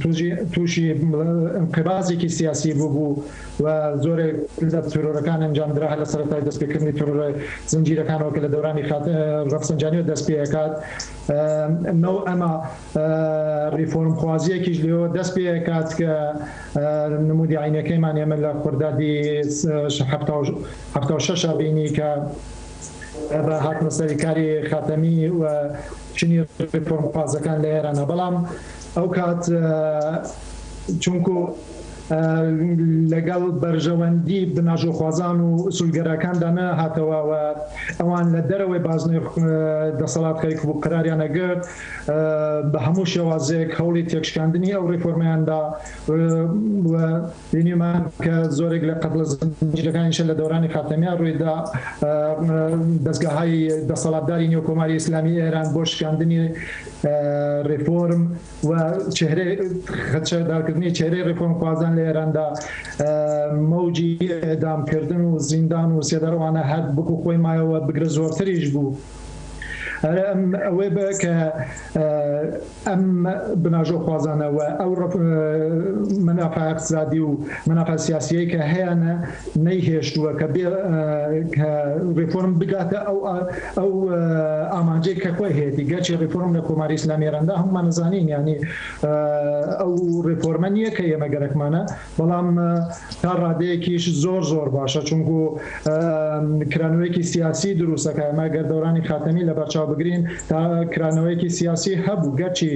تووژی تووشی ئینقیبازێکی سیاسی بووبوو و زۆرێک لە ترۆرەکان ئەنجام درا هەر لە سەرەتای دەستپێکردنی ترۆرە زنجیرەکانەوە کە لە دەورانی خاتە ڕەفسەنجانییەوە دەست پێ ئەکات. نەوئەما. ریفۆرمخوازیەکیش لێوە دەست پێئەکات کە نمودی عەینەکەیمان ئێمە لە خوردادی حەفتا و شەش ئەبینی کە بە هاتنە سەری کاری خاتەمی و چنی ریفۆرمخوازەکان لە ئێرانە بەڵام ئەو کات چونکو لەگەڵ بەرژەوەندی بناژۆخوازان و ئسولگەراکاندا نەهاتەوە و ئەوان لە دەرەوەی بازنەی دەسەڵات خەریکبوو قراریان ئەگرت بە هەموو شێوازێک هەوڵی تێکشکاندنی ئەو ڕێفۆرمەیان دا و بینیمان کە زۆرێک لە قەتڵە زنجیرەکانیشە لە دەورانی خاتەمیان ڕووی دا دەستگاهای دەسەڵاتداری نێو کۆماری ئیسلامی ئێران بۆ شکاندنی ڕێفۆرم و چهرە خەچەدارکردنی چهرەی ڕێفۆرم خوازان لە ئێراندا مەوجی ئێدامکردن و زیندان و سێدارەوانە هەر بکو خۆی مایەوە بگرە زۆرتریش بوو. ئەرێ ئەم ئەوەی بە کە ئەم بناژۆ خوازانەوە ئەو ڕپ منافع اقتصادی و منافع سیاسیەی کە هەیەە نەیهێشتووە کە بێ کە ڕفۆرم بگاتە ئەو ئەو ئامانجەی کە خۆی هەیەی گەرچی ڕفۆرم لە کۆماری ئسلامێرەندا هەمومان نزانین ینی ئەو ڕفۆرمە نیە کە ئێمە گەرەکمانە بەڵام تا ڕادەیەکیش زۆر زۆر باشە چونکو کرانەوەیەکی سیاسی دروستەکە ئەمە گەر دەورانی خاتەمی لەبەرچاو بگرین تا کرانەوەیەکی سیاسی هەبوو گەرچی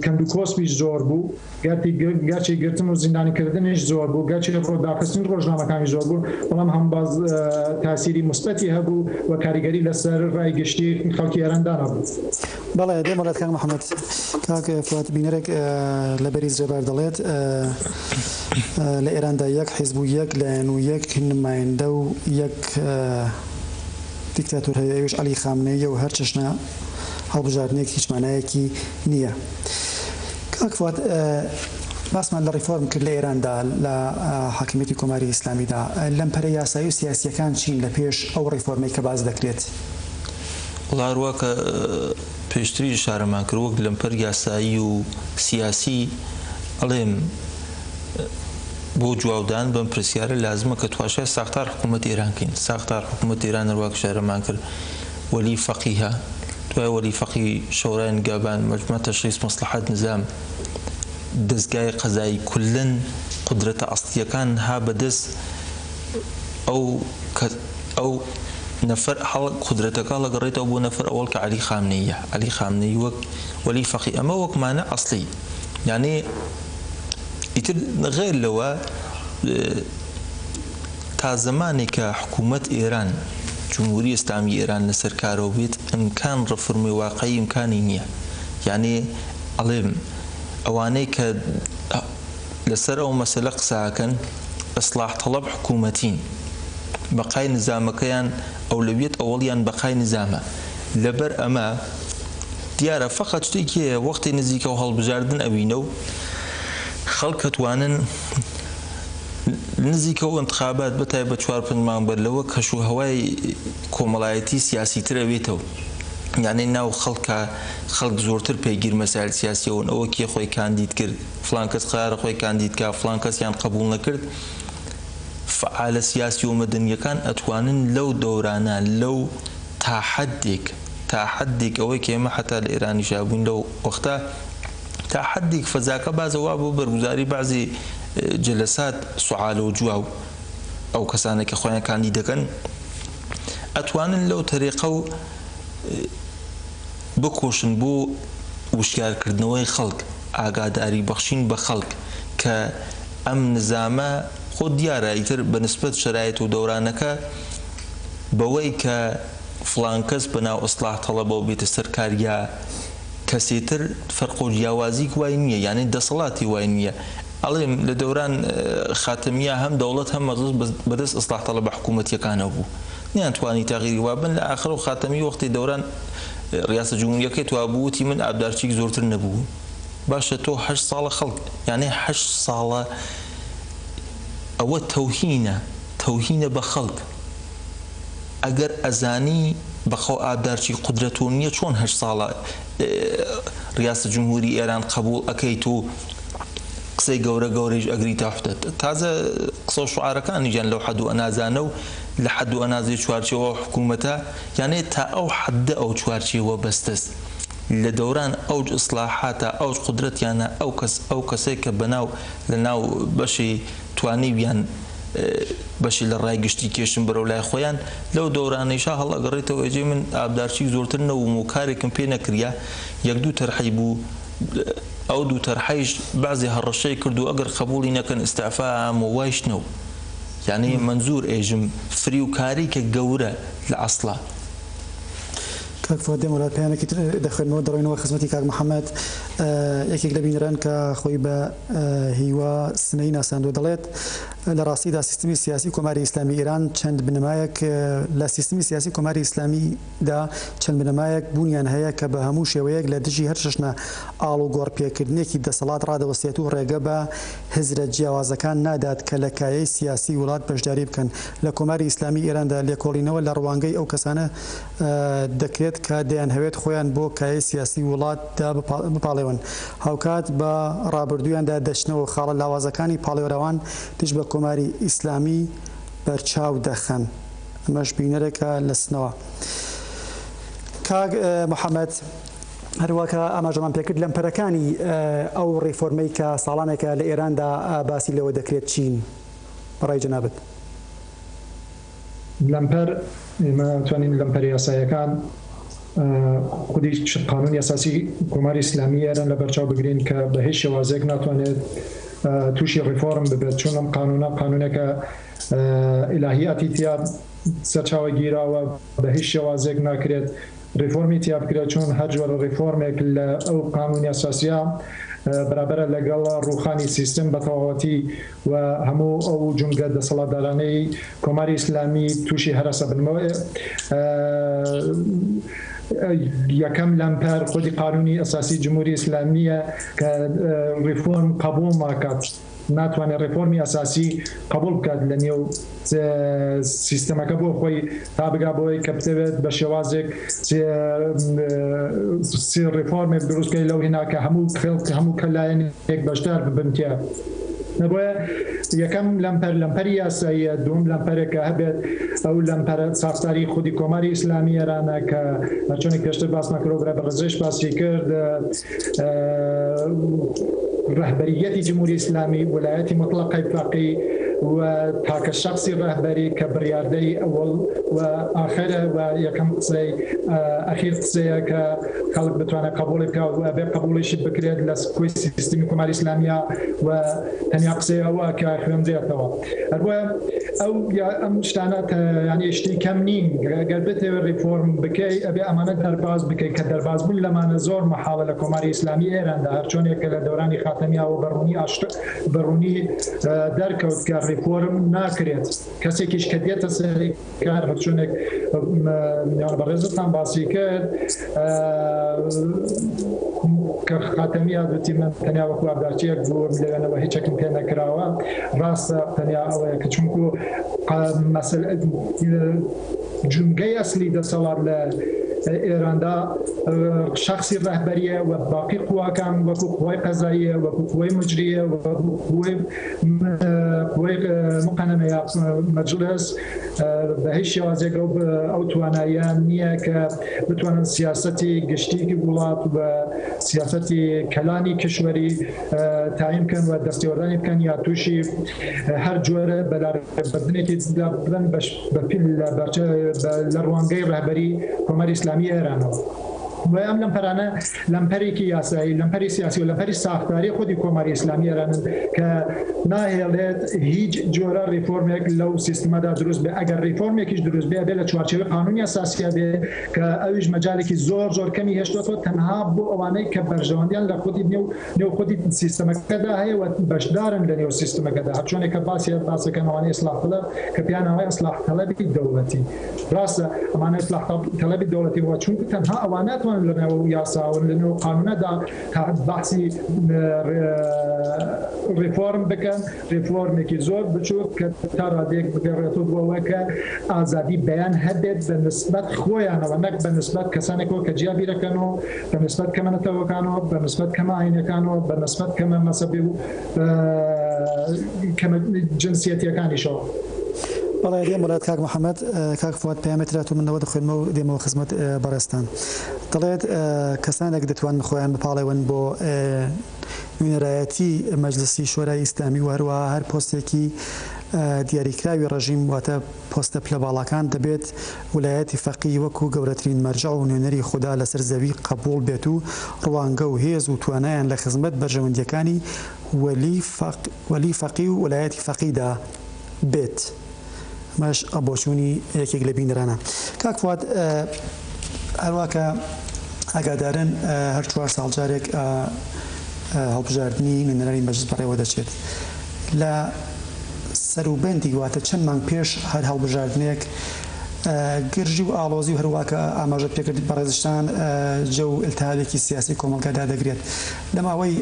کەندو کۆسپیش زۆر بوو گەرتی گەرچی گرتن و زیندانی کردنیش زۆر بوو گەرچی ڕۆ داخستنی ڕۆژنامەکانی زۆر بوو بەڵام هەم باز تاسیری مسبەتی هەبوو و کاریگەری لەسەر ڕای گشتی خەڵکی ئێران دانابوو. بەڵێ دێمە لات کاک محمد کاک فواد بینەرێک لە بەریز جەبار دەڵێت لە ئێراندا یەک حیزب و یەک لایەن و یەک نمایندە و یەک دیکتاتور هەیە ئەوش علی خامنەیە و هەر چەشنە هەڵبژاردنێک هیچ مانایەکی نییە کاک فواد باسمان لە ڕیفۆرم کرد لە ئێراندا لە حاکمیەتی کۆماری ئیسلامیدا لەم پەرە یاسایی و سیاسیەکان چین لە پێش ئەو ڕیفۆرمەی کە باز دەکرێت وەڵا هەروا کە پێشتریش ئشارەمان کرد وەک لەمپەر یاسایی و سیاسی ئەڵێم بۆ جوابدان بەم پرسیارە لازمە کە تواشای ساختار حکوومەت ئێران کەین ساختار حکوومەت ئێران هەرواک شارەمان کرد وەلی فەقیهە دوای وەلی فەقی شەورای نگابان مەجمە تەشخیص مەسلحات نزام دەستگای قەزایی کولەن قدرەتە ئەسڵیەکان ها بەدەست ئەو کە ئەو نەفەر هەڵ قودرەتەکە هەڵەگەڕێتەوە بۆ نەفەر ئەوەڵ کە عەلی خامنەییە عەلی خامنەیی وەک وەلی فەقی ئەمە وەک مانع ئەسڵی یانێ ئیتر غەیر لەوە تا زەمانێ کە حکوومەت ئێران جمهوری ئێسلامی ئێران لەسەر کارەوە بێت ئەمکان ڕفرمێ واقعی ئەمکانی نییە یانێ ئەڵێم ئەوانەی کە لەسەر ئەو مەسەلە قسەئەکەن اصلاح طلب حکومەتین بەقای نزامەکەیان ئەولەویەت ئەوەڵیان بەقای نزامە لەبەر ئەمە دیارە فەقەت شتێکی هەیە وەختی نزیکەو هەڵبژاردن ئەوینەو خەڵک ئەتوانن نزیکەو انتخابات بەتایبەت چوار پنج مانگ بەر لەوە کەشو هەوای کۆمەڵایەتی سیاسی تر ئەوێتەو یانی ناو خەڵکا خەڵک زۆرتر پەیگیر مەسایل سیاسی ئەون ئەوە کێ خۆی کاندید کرد فڵان کەس قەرارە خۆی کاندید کا فڵان کەسیان قەبوڵ نەکرد فەعالە سیاسی و مەدەنیەکان ئەتوانن لەو دەورانە لەو تا حەدیک تا حەدیک ئەوەی کە ئێمە حەتا لە ئێرانیشا بووین لەو وەختە تا حەدیک فەزاکە بازە وا بۆ بەرگوزاری بەعزی جەلەسات سوعالە و جوا و ئەو کەسانە کە خۆیان کاندید دەکەن ئەتوانن لەو تەریقە و بکۆشن بۆ وشیار کردنەوەی خەڵک. ئاگاداری بەخشین بە خەڵک کە ئەم نزامە خۆ دیارە ئیتر بە نسبەت شەرایت و دەورانەکە بەوەی کە فڵان کەس بە ناو ئیسڵاح تەڵەبەوە بێتە سەر کار یا کەسێ تر فەرق و جیاوازیک وای نییە یانی دەسەڵاتی وای نییە ئەڵێم لە دەوران خاتەمیە هەم دەوڵەت هەم مەجڵس بە دەست ئیسڵاح تەڵەبە حکوومەتییەکانەوە بوو نەیانتوانی تەغیری وابن لە ئاخر و خاتەمی وەختی دەوران ریاسە جمهوریەکەی تواو بوو وتی من ئابدارچیک زۆرتر نەبووم باشە تۆ هەشت ساڵە خەڵک یانێ هەشت ساڵە ئەوە تەوهینە تەوهینە بە خەڵک ئەگەر ئەزانی بەخوا ئابدارچیک قودرەتۆ نیە چۆن هەشت ساڵە ریاسە جمهوری ئێران قەبوڵ ئەکەیت و قسەی گەورە گەورەیش ئەگریتە حدەد تازە قسەو شعارەکانیشیان لەو حەدوە نازانە و لە حەد و ئەنازەی چوارچێوە ئەو حکوومەتە، یانێ تا ئەو حەددە ئەو چوارچێوە بەستەس، لە دەوران ئەوج ئیسلاحاتە ئەوج قودرەتیانە ئەو کەس ئەو کەسەی کە بەناو لە ناو بەشێ توانیویان بەشێ لە ڕای گشتی کێشن بەرەو لای خۆیان لەو دەورانەیشا هەڵئەگەڕێتەوە ئێجێ من ئابدارچیک زۆرتر نەووم و کارێکم پێ نەکریا یەک دوو تەرحەی بوو ئەو دوو تەرحەیش بەعزێ هەڕەشەی کرد و ئەگەر قەبووڵی نەکەن ئیستعفا ئەام و وایش نەو. یانی مەنزور ئێژم فریوکاری کە گەورە لە ئەسڵا. کاک فواد دێمە لات پەیامێکی تر دەخوێنمەوە دەڕۆینەوە خزمەتی کاک محمد یەکێک لە بینەران کە خۆی بە هیوا سنەیی ناساندوە دەڵێت لە ڕاستیدا سیستمی سیاسی کۆماری ئیسلامی ئیران چەند بنەمایەک لە سیستمی سیاسی کۆماری ئیسلامی دا، چەند بنەمایەک بوونیان هەیە کە بە هەموو شێوەیەک لە دژی هەر چەشنە ئاڵوگۆڕپێکردنێکی دەسەڵات ڕادەوەستێت و ڕێگە بە هزرە جیاوازەکان نادات کە لە کایەی سیاسی وڵات بەشداری بکەن لە کۆماری ئیسلامی ئێراندا لێکۆڵینەوە لە ڕوانگەی ئەو کەسانە دەکرێت کە دەیانهەوێت خۆیان بۆ کایەی سیاسی وڵاتدا بپاڵێون هاوکات بە ڕابردوویاندا دەچنەوە و خاڵە لاوازەکانی پاڵێوراوان دژ بە کۆماری ئیسلامی بەرچاو دەخەن ئەمەش بینەرەکە لەسنەوە کاک محمد هەروەکە ئاماژەمان پێکرد لەم پەرەکانی ئەو ڕیفۆرمەی کە ساڵانێکە لە ئێراندا باسی لەوە دەکرێت چین بەڕای جەنابت؟ لەمپەر ئێمە توانین لەمپەر یاسایەکان، خودی قانونی ئەساسی کۆماری ئیسلامی ئێران لەبەرچاو بگرین کە بە هیچ شێوازێک ناتوانێت تووشی ڕیفۆرم ببێت چون ئەم قانونە قانونێکە ئیلاهیاتی تیا سەرچاوە گیراوە بە هیچ شێوازێک ناکرێت ریفۆرمی تیا بکرێت چون هەر جۆرە ریفۆرمێک لە ئەو قانونی ئەساسیە بەرابەرە لەگەڵ ڕوخانی سیستم بە تەواوەتی و هەموو ئەو جومگە دەسەڵاتدارانەی کۆماری ئیسلامی تووشی هەرەسە بن یەکەم لەمپەر خودی قانونی ئەساسی جمهوری ئیسلامیە کە ریفۆرم قبول ناکات ناتوانێت ریفۆرمی ئەساسی قبول بکات لە نێو سیستەمەکە بۆ خۆی تا بگا بەوەی کە بتەوێت بە شێوازێک ڕێفۆرمێک دروستکەی لەو هیناکە هەموو خوێڵ هەموو کە لایەن یەک بەشدار ببن تێ نەبە یەکەم لەمپەر لەمپەری یاساییە دوم لەمپەرێکە هەبێت ئەو لەمپەرە ساختاری خودی کۆماری ئیسلامی ئێرانە کە چۆنێک پێشتر باسمان کرۆبرا بە ڕزش باسی کرد رەهبەرییەتی جمهوری ئیسلامی، وەلایەتی موتڵەقەی فەقی و تاکە شەخسی رەهبەری کە بڕیاردەری ئەوەڵ و ئاخەرە و یەکەم قسەی ئەخیر قسەیە کە خەڵک بتوانێت قەبوڵی بکا و ئەبێ قەبوڵیشی بکرێت لە کۆی سیستمی کۆماری ئیسلامییە و تەنیا قسەی ئەوە کە خوێندرێتەوە. هەربۆیە ئەو یا ئەم شتانە یانی شتی کەم نین گەر بتەوێ ریفۆرم بکەی ئەبێ ئەمانە دەرباز بکەی کە دەرباز بوون لەمانە زۆر محاڵە لە کۆماری ئیسلامی ئێراندا هەرچۆنێک کە لە دەورانی خاتەمیاوە بەڕوونی ئاشت بەڕوونی دەرکەوت کە ریفۆرم ناکرێت کەسێکیش کە دێتە سەری کە هەرچۆنێک میوان بەڕێزتان باسی کرد کە خاتەمی یادوتی من تەنیا وەکو ئابداچیەک بوو لەوێنەوە هیچێکم پێ نەکراوە ڕاستە تەنیا ئەوەیە کە چونکو مەسل جونگەی ئەسلی دەسەڵات لە ئێراندا شخصی ڕهبەریە و باقی قوواکان وەکو قوای قەزاییە وەکو قوای مجریە وەکو قوای وەیک مقننە یا مەجلس بە هیچ شێوازێک ئەو ئەو توانایان نییە کە بتوانن سیاستی گشتیکی وڵات و سیاستی کەلانی کشوەری تایم بکەن و دەستێوەردانی بکەن یا تووشی هەر جۆرە بەلاردنێکی بن بە لە بەرچە لە ڕوانگەی ڕهبەری کۆماری ئسلامی ئێرانەوە. بۆیە ئەم لەمپەرانە لەمپەرێکی یاسایی، لەمپەری سیاسی و لەمپەری ساختاری خودی کۆماری ئیسلامی ئێرانن کە ناهێڵێت هیچ جۆرە ریفۆرمێک لەو سیستمەدا دروست بێت. ئەگەر ریفۆرمێکیش دروست بێت ئەبێت لە چوارچێوەی قانونی ئەساسیدا بێت کە ئەویش مەجالێکی زۆر زۆر کەمی هێشتۆتەوە تەنها بۆ ئەوانەی کە بەرژەوەندیان لە خودی نێو نێو خودی سیستمەکەدا هەیە و بەشدارن لە نێو سیستمەکەدا. هەرچۆنێک کە باسی باس دەکەن ئەوانەی ئیسلاح طلب کە پێیان ئەڵێن ئیسلاح طلبی دەوڵەتی. راستە ئەمانە ئیسلاح تەڵەبی دەوڵەتی بووە چونکو تەنها ئەوان ناتوانن لەنێو یاسا و لەنێو قانونەدا بەحسی ریفۆرم بکەن ریفۆرمێکی زۆر بچووک کە تا رادێک بگەڕێتەوە بۆەوە کە ئازادی بەیان هەبێت بە نسبەت خۆیانەوە نەک بە نسبەت کەسانێکەوە کە جیا بیرەکەنەوە بە نسبەت کەمەەتەوەکانەوە بە نسبەت کەمە ئاینەکانەوە بە نسبەت کەمە مەسەبێ و جنسیەتیەکانیشەوە. بەڵێ دێم بەلات کاک محمد کاک فواد پەیامێ ترا تۆ من نەوە دەخوێنمەوە دێمەوە خزمەت بەڕێزتان دەڵێت کەسانێک دەتوانن خۆیان بپاڵێون بۆ نوێنەرایەتی مەجلسی شۆرای ئیسلامی و هەروە هەر پۆستێکی دیاریکراوی ڕژیم واتە پۆستە پلە باڵاکان دەبێت ولایەتی فەقیی وەکو گەورەترین مەرجەع و نوێنەری خودا لەسەر زەوی قەبووڵ بێت و ڕوانگە و هێز و توانایان لە خزمەت بەرژەوەندییەکانی ولی فەقی و ولایەتی فەقیدا بێت مەش ە بۆچوونی یەکێک لە بینەرانە کاک فواد هەروا کە ئاگادارن هەر چوار ساڵ جارێک هەڵبژاردنی نوێنەرانی مەجلس بەڕێوە دەچێت لە سەروبەندی واتە چەند مانگ پێش هەر هەڵبژاردنێک گرژی و ئاڵۆزی و هەروا کە ئاماژە پێکرد بەڕێزشتان جە و التهابێکی سیاسی کۆمەڵگادا دەگرێت لە ماوەی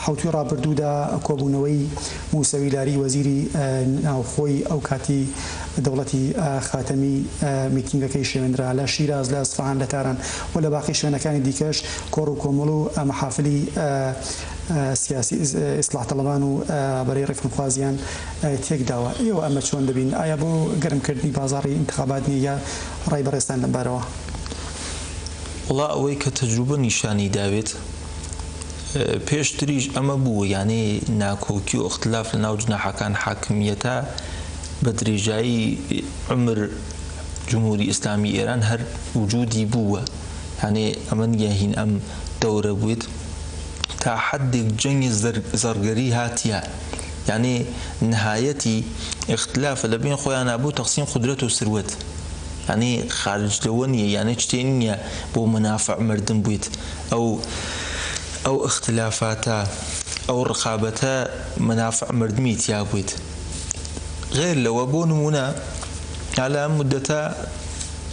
حەوتووی ڕابردوودا کۆبوونەوەی موسەوی لاری وەزیری ناوخۆی ئەو کاتی دەوڵەتی خاتەمی میتینگەکەی شێوێنرا لە شیراز لە ئەسفهان لە تاران و لە باقی شوێنەکانی دیکەش کۆڕ و کۆمەڵ و مەحافلی سیاسی ئیسلاح تەڵەبان و ڕابەرەی ڕێفرمخوازیان تێک داوە ئێوە ئەمە چۆن دەبین ئایا بۆ گەرم کردنی بازاڕی ئینتخابات نیە یا ڕای بەڕێزتان لەم بارەوە؟ وەڵا ئەوەی کە تەجروبە نیشانی داوێت پێشتریش ئەمە بوو یانەی ناکۆکی و ئختلاف لە ناو جناحەکان حاکمیەتە بە درێژایی عمر جمهوری ئیسلامی ئێران هەر وجودی بووە هەنێ ئەمە نیە هین ئەم دەورە بێت تا حەددێک جەنگی زەڕگەری هاتیە یانی نهایەتی ئیختلافە لە بەین خۆیانا بۆ تەقسیم قودرەت و سروەت یانی خارج لەوە نیە یانی چتێ نیە بۆ منافع مردن بویت ئەو ئەو ئیختلافاتە ئەو ڕقابەتە منافع مردنی تیا بویت غەیر لەوە بۆ نمونە ئالا ئەم مودەتە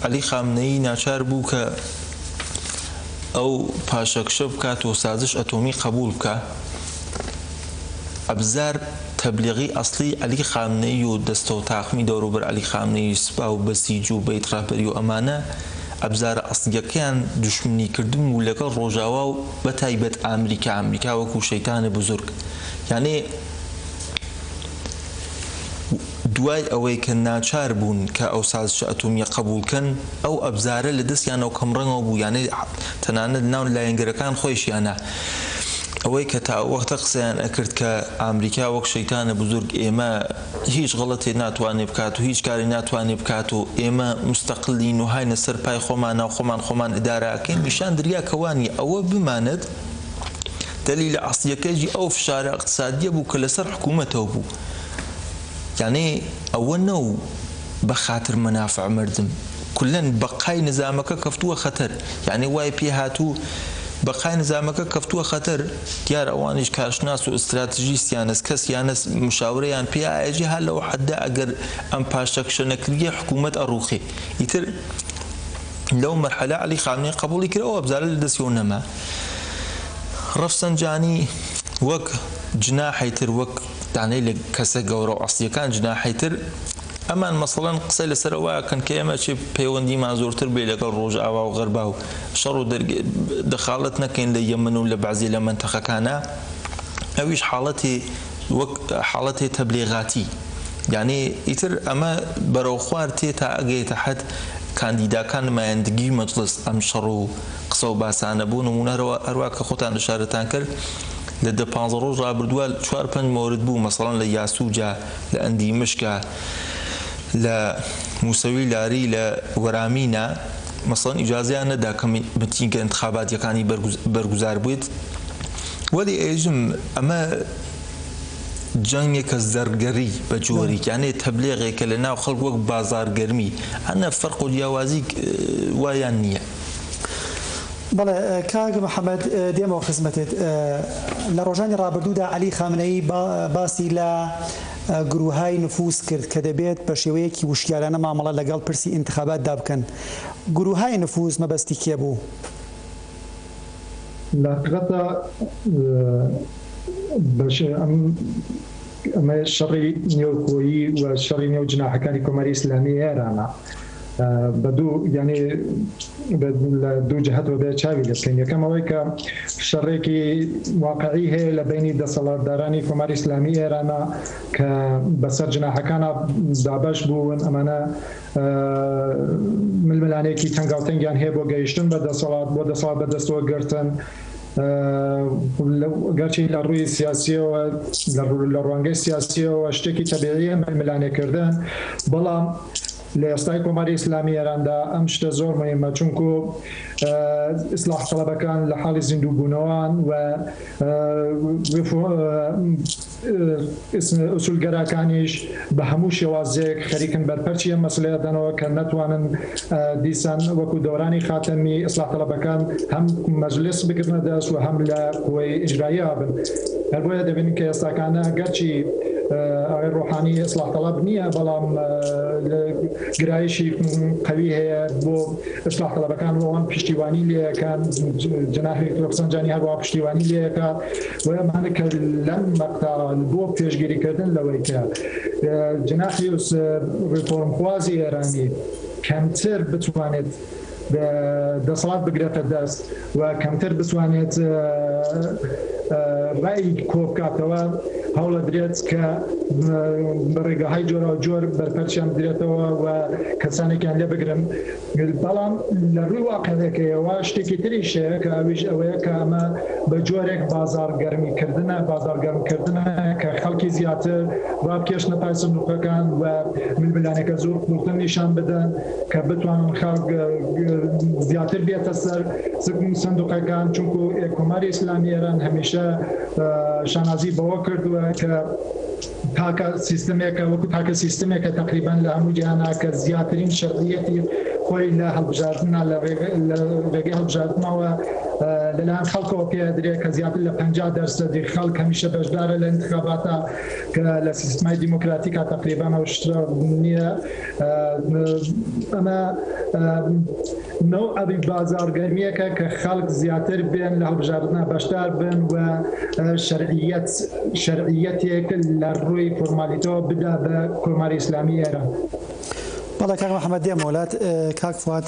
عەلی خامنەیی ناچار بوو کە ئەو پاشەکشە بکات و سازش ئەتۆمی قەبووڵ بکا، ئەبزار تەبلیغی ئەسڵی عەلی خامنەیی و دەستەو تاقمی دەوروبەر عەلی خامنەیی، سپا و بەسیج و بەیت ڕەهبەری و ئەمانە ئەبزارە ئەسڵیەکەیان دوشمنی کردن و لەگەڵ ڕۆژاوا و بەتایبەت ئامریکا، ئامریکا وەکو شەیتانە بزورگ یانێ، دوای ئەوەی کە ناچار بوون کە ئەو سازشە ئەتۆمییە قەبووڵ کەن، ئەو ئەبزارە لە دەستیانەوە کەمڕەنگەوە بوو، یانێ تەنانەت ناو لایەنگرەکان خۆیشیانە ئەوەی کە تا ئەو وەختە قسەیان ئەکرد کە ئامریکا وەک شەیتانە بزورگ ئێمە هیچ غەڵەتێ ناتوانێ بکات و هیچ کارێ ناتوانێ بکات و ئێمە مستقلین و هاینە سەر پای خۆمانا و خۆمان خۆمان ئدارە ئەکەین نیشان دریا کە وا نیە ئەوە بمانەت دەلیلە ئەسڵیەکەیی ئەو فشارە ئقتسادیە بوو کە لە سەر حکوومەتەوە بوو. یانی ئەوە نەو بە خاتر مەنافع مردم کولەن بەقای نزامەکە کەفتووە خەتەر یانی وای پێ هاتوو بەقای نزامەکە کەفتووە خەتەر دیار ئەوانیش کارشناس و ئستراتژیستیانس کەس یانس مشاورەیان پێ ئایەجی هەر لەو حەدە ئەگەر ئەم پاشەکشە نەکریە حکوومەت ئەڕووخێ ئیتر لەو مەرحەلە عەلی خامنەی قەبووڵی کرد ئەو ئەبزارە لە دەسیەوە نەما ڕەفسەنجانی وەک جناحی تر وەک. دانەی لە کەسە گەورە و ئەسڵیەکان جناحی تر ئەمان مەسەڵەن قسەی لەسەر ئەوە ئەکەن کە ئێمە چێ پەیوەندیمان زۆرتر بێ لەگەڵ ڕۆژئاوا و غەربا و شەڕ و دەخاڵەت نەکەین لە یەمەن و لە بەعزێ لە مەنتەقەکانا ئەویش حاڵەتێ وەک حاڵەتێ تەبلیغاتی یانێ ئیتر ئەمە بەرەوخوار تێ تا ئەگەێتە حەد کاندیداکان نمایندگی مەجڵس ئەم شەڕ و قسەو باسانە بۆ نمونە هەروا کە خۆتان ئشارەتان کرد لە دە پانزە ڕۆژ ڕابردوە چوار پەنج مۆرد بوو مەسەڵەن لە یاسوجە لە ئەندی مشکە لە موسەوی لاری لە وەرامینە مەسەڵەن ئیجازەیان نەدا کە متینگە ئنتخاباتیەکانی بەرگوزار بێت وەلی ئێژم ئەمە جەنگێکە زەرگەری بە جۆریکیانێ تەبلێغێکە لە ناو خەڵک وەک بازارگەرمی ئەنە فەرق و جیاوازی وایان نییە. بەڵێ کاک محەمەد دێمەوە خزمەتت. لە ڕۆژانی ڕابردوودا عەلی خامنەیی باسی لە گرووهای نفوز کرد کە دەبێت بە شێوەیەکی وشیارانە مامەڵە لەگەڵ پرسی ئینتخاباتدا بکەن. گرووهای نفوز مەبەستی کێ بوو؟ لە حەقیقەتدا ئەمە شەڕی نێوخۆیی و شەڕی نێو جناحەکانی کۆماری ئیسلامیی ئێرانە بە دوو یانی لە دوو جهتەوە بێ چاوی لێبکەین یەکەم ئەوەی کە شەڕێکی واقعی هەیە لە بینی دەسەڵاتدارانی کۆماری ئسلامی ئێرانە کە بەسەر جناحەکانە دابش بوون ئەمانە ململانێکی تەنگاوتەنگیان هەیە بۆ گەیشتن بە دەسەڵات بۆ دەسەڵات بەدەستەوە گرتن گەرچی لە ڕووی سیاسیەوە لە ڕوانگەی سیاسیەوە شتێکی تەبیعیە ملانێکردن بەڵام لە ئێستای کۆماری ئیسلامی ئێراندا ئەم شتە زۆر موهیمە چونکو ئیسلاح تەڵەبەکان لە حاڵی زیندوو بوونەوەن و ئوسولگەراکانیش بە هەموو شێوازێک خەریکن بەرپەرچی ئەم مەسەلەیە دەنەوە کە نەتوانن دیسان وەکو دەورانی خاتەمی ئیسلاح تەڵەبەکان هەم مەجلیس بگرنە دەست و هەم لە قوەی ئیجراییە بن. هەر بۆیە دەبینین کە ئێستاکانە گەرچی ئاغای ڕۆحانی ئێسڵاح تەڵەب نییە بەڵام گرایشی قوی هەیە بۆ ئێسڵاح تەڵەبەکان ئەوان پشتیوانی لەکان جناحی ڕفسەنجانی هەروە پشتیوانی لەکە بۆیە مانە کە لەم مەقتا بۆ پێشگیریکردن لەوەی کە جناحی ڕفۆرمخوازی ئێرانی کەمتر بتوانێت دەسەڵات بگرێتە دەست و کەمتر بتوانێت ڕای کۆبکاتەوە هەوڵە درێت کە بەڕێگەهای جۆرا جۆر بەرپەرچیان بدرێتەوە و کەسانێکیان لێ بگرن بەڵام لە ڕووی واقعەکەیەوە شتێکی تریشەیە کە ئەویش ئەوەیە کە ئەمە بە جۆرێک بازار گەرمیکردە بازار گەرمکردە کە خەڵکی زیاتر ڕابکێشنە پای سندوقەکان و ململانێکە زۆر قوڵتر نیشان بدەن کە بتوانن خەڵک زیاتر بێتە سەر سکن و سندوقەکان چونکو کۆماری ئیسلامی ئێران هەمیشە شانازی بەوە کردووە کە تاکە سیستمێکە وەکو تاکە سیستمێکە تقریبان لە هەموو جیهانا کە زیاترین شەرعیەتی خۆی لە هەڵبژاردنە لە ڕێگەی هەڵبژاردنەوە لەلایەن خەڵکەوە پێدرێت کە زیاتر لە پ دەرسەدی خەڵک هەمیشە بەشدارە لە انتخاباتە کە لە سیستمای دیموکراتیکا تقریبانەوە شترا نییە ئەمە نەوعی بازاڕگەرمیەکە کە خەڵک زیاتر بێن لە هەڵبژاردنا بەشدار بن و شەرعیەت شەرعیەتێک لە ڕووی فۆرمالیتەوە بدا بە کۆماری ئیسلامی ئێران بەڵێ کاک محەممەد دێمە وڵات کاک فات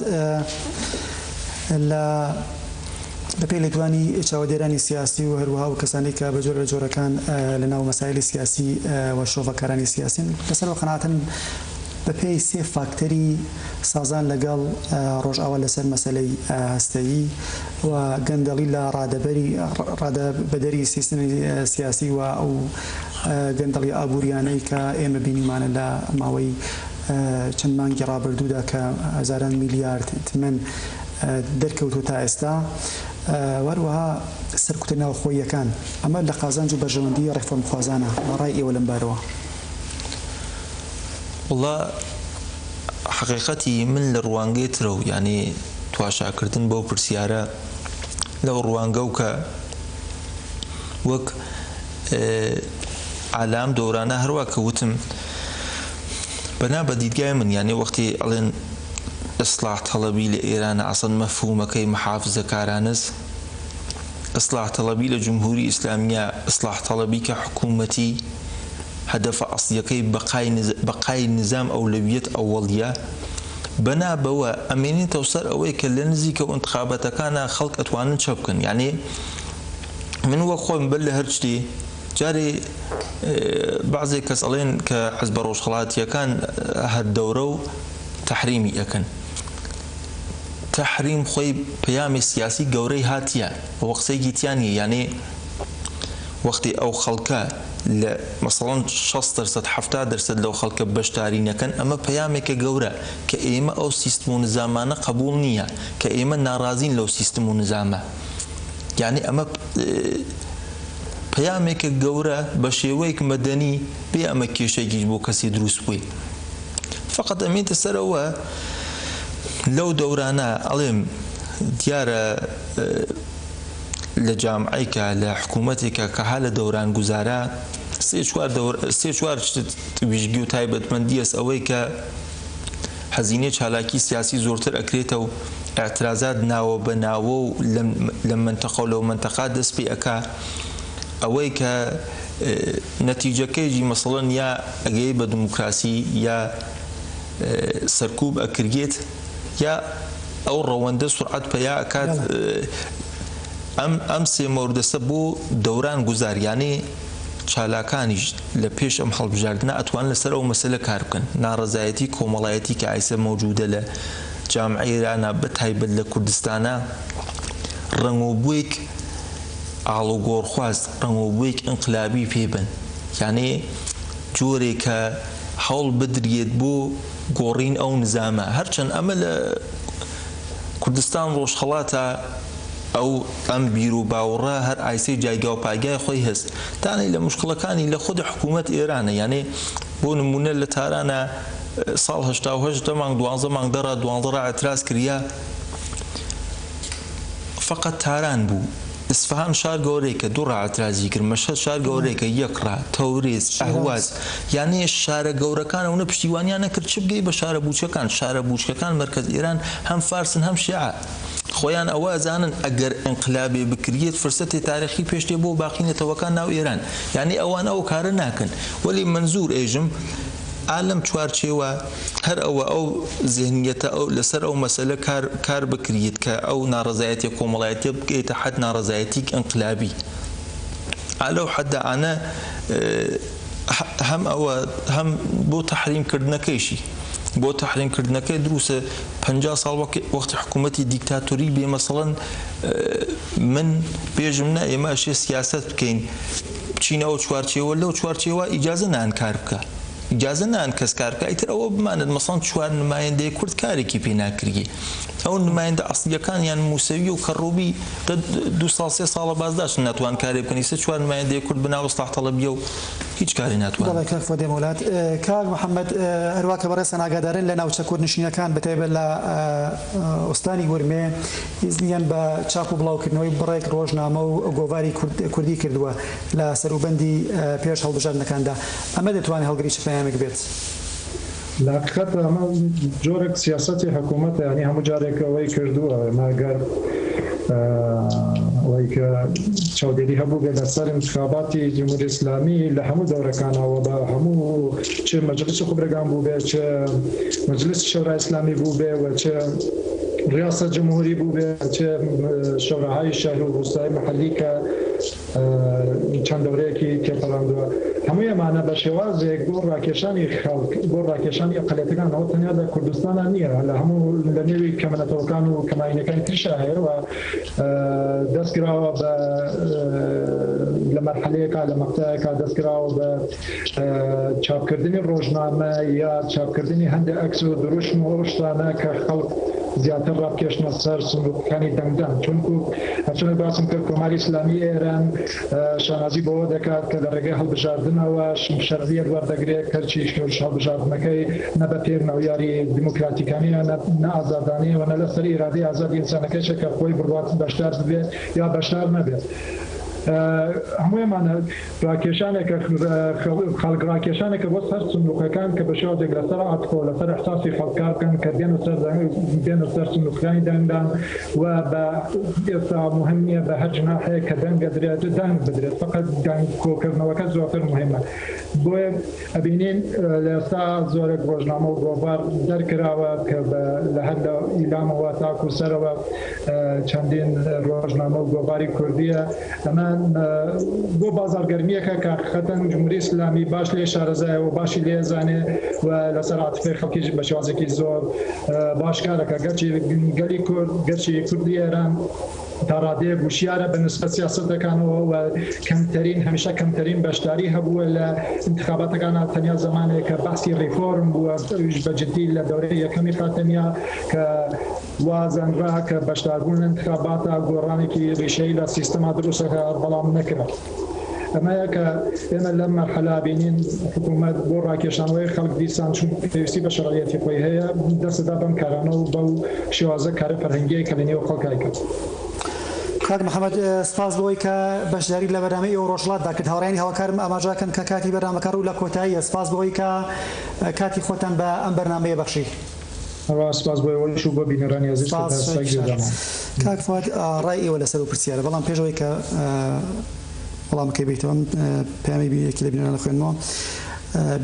لە بەپێی لێدوانی چاوەدێرانی سیاسی و هەروەها و کەسانی کە بە جۆرە لە جۆرەکان لە ناو مەسایلی سیاسی و شرۆڤەکارانی سیاسین لەسەر ئەوە قەناعەتن بە پێی سێ فاکتەری سازان لە گەڵ ڕۆژئاوا لە سەر مەسەلەی هەستەیی و گەندەڵی لە ڕادەبەری ڕادە بەدەری سیستمی سیاسی و ئەو گەندەڵی ئابووریانەی کە ئێمە بینیمانە لە ماوەی چەند مانگی ڕابردوودا کە هەزاران میلیارد تمەن دەرکەوتووە تا ئێستا و هەروەها سەرکوتە ناوخۆییەکان، ئەمە لە قازانج و بەرژەوەندیی ڕێفۆرمخوازانە، ڕای ئێوە لەم بارەوە؟ وەڵا حەقیقەتی من لە ڕوانگەی ترە و یانی تواشاکردن بەو پرسیارە لەو ڕوانگە و کە وەک ئا لام دەورانە هەروا کە وتم بەنا بە دیدگای من یانی وەختی ئەڵێن، ئیسلاح تەڵەبی لە ئێرانە ئەسڵەن مەفهوومەکەی محافزەکارانەس ئیسلاح تەڵەبی لە جمهووری ئیسلامیە ئیسلاح تەڵەبی کە حکوومەتی هەدەفە ئەسڵیەکەی بەقای بەقای نیزام ئەولەویەت ئەوەڵیە بەنا بەوە ئەمێنێتەوە سەر ئەوەی کە لە نزیکە و ئینتخابەتەکانا خەڵک ئەتوانن چە بکەن یانێ من وەک خۆم بەر لە هەر شتێ جارێ بەعزێ کەس ئەڵێن کە حزبە ڕۆژهەڵاتیەکان هەر دەورە و تەحریمی ئەکەن تەحریم خۆی پەیامی سیاسی گەورەی هاتیە ئەوە قسەیەکی تیا نیە یانی وەختی ئەو خەڵکە لە مەسەڵەن شەست دەرسەد حەفتا دەرسەد لەو خەڵکە بەشداری نەکەن ئەمە پەیامێکە گەورە کە ئێمە ئەو سیستم و نزامانە قەبوڵ نیە کە ئێمە نارازین لەو سیستم و نزامە یانی ئەمە پەیامێکە گەورە بە شێوەیەک مەدەنی بێ ئەمە کێشەیەکیش بۆ کەسی دروست بووی فقط ئەمێتە سەرەوە لەو دەورانە ئەڵێم دیارە لە جامعیکە لە حکوومەتێکە کە ها لە دەوران گوزارە سێ چوار سێ چوار ویژگی و تایبەتمەندیەس ئەوەی کە هەزینەی چالاکی سیاسی زۆرتر ئەکرێتە و اعترازات ناوە بە ناوە و لە منتەقە و لەو منتەقا دەست پێ ئەکا ئەوەی کە نەتیجەکەیجی مەسڵەن یا ئەگەیت بە دموکراسی یا سەرکوب ئەکرگێت یا ئەو ڕەوەندە سورعەت پەیا ئەکات ئەم ئەم سێ مۆردەسە بۆ دەوران گوزار یانێ چالاکانیش لە پێش ئەم هەڵبژاردنە ئەتوان لەسەر ئەو مەسەلە کار بکەن ناڕەزایەتی کۆمەڵایەتی کە ئایسە مەوجودە لە جامعەی ئێرانە بە تایبەت لە کوردستانە ڕەنگۆ بویک ئاڵوگۆڕخواز ڕەنگ و بۆیەکی ئینقلابی پێ بن، یانێ جۆرێ کە هەوڵ بدریێت بۆ گۆڕین ئەو نزامە، هەرچەن ئەمە لە کوردستان ڕۆژهەڵاتا ئەو ئەم بیر و باوڕە هەر ئایسێ جایگا و پایگای خۆی هەس، تانەی لە موشکڵەکانی لە خود حکوومەت ئێرانە، یانێ بۆ نموونە لە تارانا ساڵ هەشتا و هەشت دە مانگ دوانزە مانگ دە ڕا دوانزە ڕا ئێتراز کریا، فەقەت تاران بوو ئیسفەهان شار گەورەیکە دوو ڕا ئەترازی کرد مەشهەد شار گەورەیکە یەک ڕا تەوریز ئەهواز یانێ شارە گەورەکان ئەونە پشتیوانیان نەکرد چ بگەی بە شارە بوچەکان شارە بوچکەکان مەرکەز ئێران هەم فارسن هەم شێعە خۆیان ئەوە ئەزانن ئەگەر ئینقلابێ بکریەت فرسەتێ تارێخی پێش دێ بۆ باقی نەتەوەکان ناو ئێران یانێ ئەوان ئەو کارە ناکەن وەلی مەنزور ئێژم ئا لەم چوارچێوە هەر ئەوە ئەو زهنیەتە ئەو لەسەر ئەو مەسەلە کار کار بکریت کە ئەو ناڕەزایەتیە کۆمەڵایەتیە بگەیتە حەد ناڕەزایەتیک ئینقلابی ئا لەو حەددا ئانە هەم ئەوە هەم بۆ تەحریم کردنەکەیشی بۆ تەحریم کردنەکەی دروسە پ ساڵ وەک وەختی حکوومەتی دیکتاتوری بێ مەسەڵەن من بێژم نە ئێمە ئەشێ سیاسەت بکەین بچینە ئەو چوارچێوە لەو چوارچێوە ئیجازە نان کار بکا ئیجازە نان کەس کار بکا ئیتر ئەوە بمانێت مەسەڵەن چوار نمایندەی کورد کارێکی پێ ناکریێ ئەو نمایندە ئەسڵیەکان یان موسەوی و کەڕوبی دە دو ساڵ سێ ساڵە بازداشن ناتوان کارێ بکەن ئیسە چوار نمایندەی کورد بنا ئیسلاح تەڵەبیە و هیچ کاری ناتوان بەڵێ کاک فۆدێ مۆلات کاک محەممەد هەروا کە بەڕێزتان ئاگادارن لە ناوچە کوردنشینەکان بەتایبەت لە ئوستانی ورمێ ئیزنیان بە چاپ و بڵاوکردنەوەی بڕێک ڕۆژنامە و گۆڤاری کوردی کردووە لە سەروبەندی پێش هەڵبژاردنەکاندا، ئەمە دەتوانێت هەڵگری چ پەیامێک بێت؟ لە هەقیقەتدا ئەمە جۆرێک سیاسەتی حکوومەتە، یانی هەموو جارێک ئەوەی کردووە، ئەمە ئەگەر ئەوەی کە چاودێری هەبووبێت لەسەر انتخاباتی جمهوری اسلامی لە هەموو دەورەکانا و بە هەموو چ مجلس خبرگان بووبێت، چ مجلس شورای اسلامی بووبێت و چ ڕیاسەت جمهوری بووبێ چێ شۆراهای شەهر و ڕووستای محەلی کە چەند دەورەیەکی تێپەڕاندووە هەمووی ئەمانە بە شێوازێک بۆ ڕاکێشانی خەڵک بۆ ڕاکێشانی ئەقلیەتەکان ئەوە تەنیا لە کوردستانا نییە لە هەموو لە نێوی کەمەنەتەوەکان و کەماینەکانی ترشا هەیە و دەستکراوە بە لە مەرحەلەیەکا لە مەقتەیەکا دەستکراوە بە چاپکردنی ڕۆژنامە یا چاپکردنی هەندێ عەکس و دروشم و ئەو شتانە کە خەڵک زیاتر ڕابکێشنە سەر سندوقەکانی دەنگدان چونکو هەرچۆنێک باسم کرد کۆماری ئیسلامی ئێران شانازی بەوە دەکات کە لە ڕێگەی هەڵبژاردنەوە شەرعیەت وەردەگرێت کەرچی شۆرش هەڵبژاردنەکەی نە بە پێ مەعیاری دیموکراتیکانە نە ئازادانەیەوە نە لەسەر ئیرادەی ئازادی ئینسانەکەشە کە خۆی بڕوات بەشدار ببێت یا بەشدار نەبێت هەموویمانە خەڵک ڕاکێشانێکە بۆ سەر سندوقەکان کە بەشێوە دێک لەسەر عاتفەوە لەسەر ئیحساسی خەڵک کار بکەن کە دێن و سەر دێن و سەر سندوقەکانی دەنگدان و بە ئێستا موهیم نیە بە هەر جناحێک کە دەنگ ئەدرێت دەنگ بدرێت فەقەت دەنگ کۆکردنەوەکە زۆرتر موهیمە بۆیە ئەبینین لە ئێستا زۆرێک ڕۆژنامە و گۆڤار دەرکراوە کە لە هەر لە ئیلامەوە تاکو سەرەوە چەندین ڕۆژنامە و گۆڤاری کوردیە ئەمە بۆ بازارگەرمیەکە کە خەتەن جمهوری ئسلامی باش لێ شارەزایە و باشی لێ زانێ و لەسەر عاتفەی خەڵکیش بە شێوازێکی زۆر باشکارەکە گەرچی گەلی کورد گەرچی کوردی ئێران تا ڕادەیەک وشیارە بە نسبەت سیاسەتەکانەوە و کەمتەرین هەمیشە کەمتەرین بەشداری هەبووە لە ئینتخاباتەکانا تەنیا زەمانێکە بەحسی ڕیفۆرم بووە ئەویش بە جدی لە دەورەی یەکەمی خاتەمیە کە وا زانرا کە بەشداربوون لە ئینتخاباتا گۆڕانێکی ڕیشەیی لە سیستەما دروست دەکا بەڵام نەکرا. ئەمەیە کە ئێمە لەم مەرحەلە بینین حکوومەت بۆ ڕاکێشانەوەی خەڵک دیسان چون پێویستی بە شەرعیەتی خۆی هەیە دەست دەدا بەم کارانە و بەو شێوازە کارە فەرهەنگیەی کە لە نێو خەڵک ئەیکات. کاک محەمەد سپاس بۆ ئەوەی کە بەشداریت لە بەرنامەی ئێوە ڕۆژهەڵاتدا کرد. هاوڕێیانی هەڵکارم ئاماژەکەن کە کاتی بەرنامەکە ڕوو لە کۆتاییە. سپاس بۆ ئەوەی کە کاتی خۆتان بە ئەم بەرنامەیە بەخشی. هەروا سپاس بۆ ئێوەش و بۆ بینەرانی ئازیز کە سپاس تا ئێستا شایەکی گوێ شەرەف دامانە. کاک فواد ڕای ئێوە لەسەر ئەو پرسیارە بەڵام پێش ئەوەی کە وەڵامەکەی بەیتەوە من پەیامی یەکی لە بینەران ئەخوێنمەوە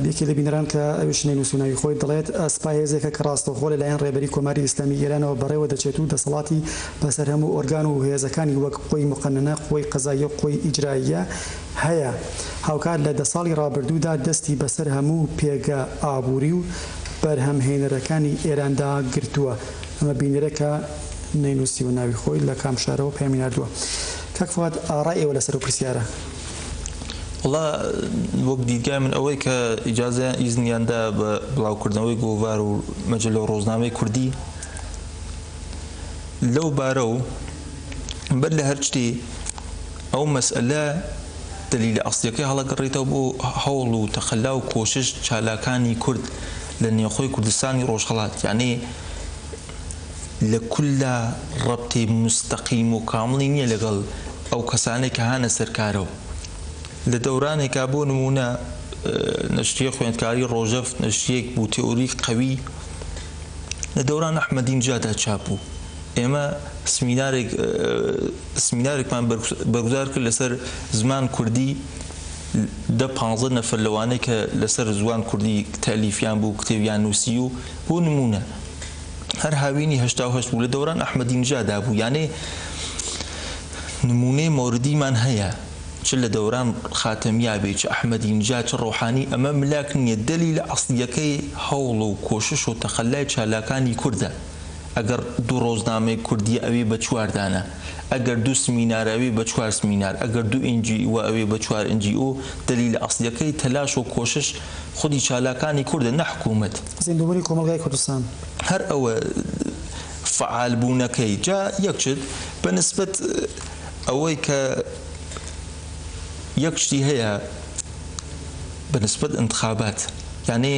یەکی لە بینەران کە ئەویش نەینوسوو ناوی خۆی دەڵێت سپا هێزێکە کە ڕاستەوخۆ لە لایەن ڕێبەری کۆماری ئیسلامی ئێرانەوە بەڕێوە دەچێت و دەسەڵاتی بەسەر هەموو ئۆرگان و هێزەکانی وەک قوەی موقەننە، قوەی قەزاییە و قوەی ئیجرائیە هەیە. هاوکات لە دە ساڵی ڕابردوودا دەستی بەسەر هەموو پێگە ئابووری و. بەرهەمهێنەرەکانی ئێراندا گرتووە، ئەمە بینەرە کە نەینووسیوە ناوی خۆی لە کام شارەوە پەیامی ناردووە. کاک فواد ئارای ئێوە لەسەر ئەو پرسیارە؟ وەڵا وەک دیدگای من ئەوەی کە ئیجازەیان، ئیزنیان دا بە بڵاوکردنەوەی گۆڤار و مەجەللە و ڕۆزنامەی کوردی لەو بارە و بەر لە هەر شتێ، ئەو مەسئەلە دەلیلە ئەسڵیەکەی هەڵەگەڕیتەوە بۆ هەوڵ و تەقەلا و کۆشش چالاکانی کورد لە نێوخۆی کوردستانی ڕۆژهەڵات یانی لە کوللا ڕەبتی موستەقیم و کامڵی نیە لەگەڵ ئەو کەسانەی کە هانە سەر کارە و لە دەورانێکا بۆ نمونە نەشریە خوێندکاری ڕۆژەڤ نەشریەک بوو تئوری قەوی لە دەوران ئەحمەدینژادا چاپ بوو. ئێمە سمینارێک سمینارێکمان بەرگزار کرد لەسەر زمان کوردی دە پانزە نەفەر لەوانەی کە لەسەر زوان کوردی تەلیفیان بوو کتێبیان نووسی و بۆ نموونە هەر هاوینی هەشتا و هەشت بوو لە دەوران ئەحمەدی نژادا بوو یانێ نموونەی مۆردیمان هەیە چ لە دەوران خاتەمیا بێ چ ئەحمەدی نژا چ ڕۆحانی ئەمە ملاک نییە دەلیلە ئەسڵیەکەی هەوڵ و کۆشش و تەقەلای چالاکانی کوردە. ئەگەڕ دوو ڕۆزنامەی کوردیە ئەوێ بە چوار دانە ئەگەر دوو سمینارە ئەوێ بە چوار سمینار ئەگەر دوو ئێن جی ئوە ئەوێ بە چوار ئێن جی ئو دەلیلە ئەسڵیەکەی تەلاش و کۆشش خودی چالاکانی کوردە نە حکومەت. زیندووبونی کۆمەڵگای کوردستان. هەر ئەوە فەعال بوونەکەی جا یەک شت بە نسبەت ئەوەی کە یەک شتی هەیە بە نسبەت ئنتخابات یانێ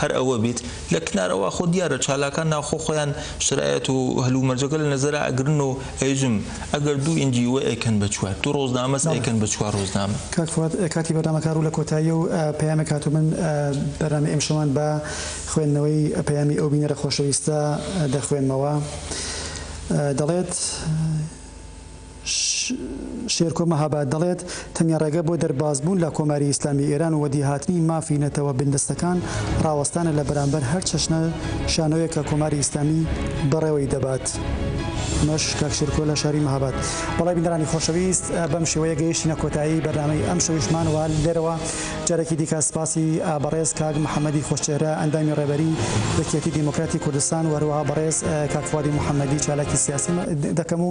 هەر ئەوە بیت لە کنارەوە خۆ دیارە چالاکان ناوخۆ خۆیان شرایەت و هەلومەرجەکە لە نەزەرا ئەگرن و ئەیژم ئەگەر دوو ئینجی وە ئەیکەن بە چوار دوو ڕۆزنامەس ئەیکەن بە چوار ڕۆزنامە. کاک فواد کاتی بەرنامەکە ڕوو لە کۆتاییە و پەیامێک هاتوو من بەرنامەی ئمشەوان بە خوێندنەوەی پەیامی ئەو بینەرە خۆشەویستە دەخوێنمەوە دەڵێت، شێرکۆ مەهاباد دەڵێت، تەنیا ڕێگە بۆ دەربازبوون لە کۆماری ئیسلامی ئێران و وەدیهاتنی مافی نەتەوە بندەستەکان ڕاوەستانە لە بەرامبەر هەر چەشنە شانۆیەک کە کۆماری ئیسلامی بەڕێوەی دەبات. مەش کاک شێرکۆ لە شاری مەهاباد. بەڵێ بینەرانی خۆشەویست بەم شێوەیە گەیشتینە کۆتایی بەرنامەی ئەم شەویشمان و لێرەوە جارێکی دیکە سپاسی بەڕێز کاک محەمەدی خۆشچێهرە ئەندامی ڕێبەری یەکیەتی دێمۆکراتی کوردستان و هەروەها بەڕێز کاک فوادی محەمەدی چالاکی سیاسی دەکەم و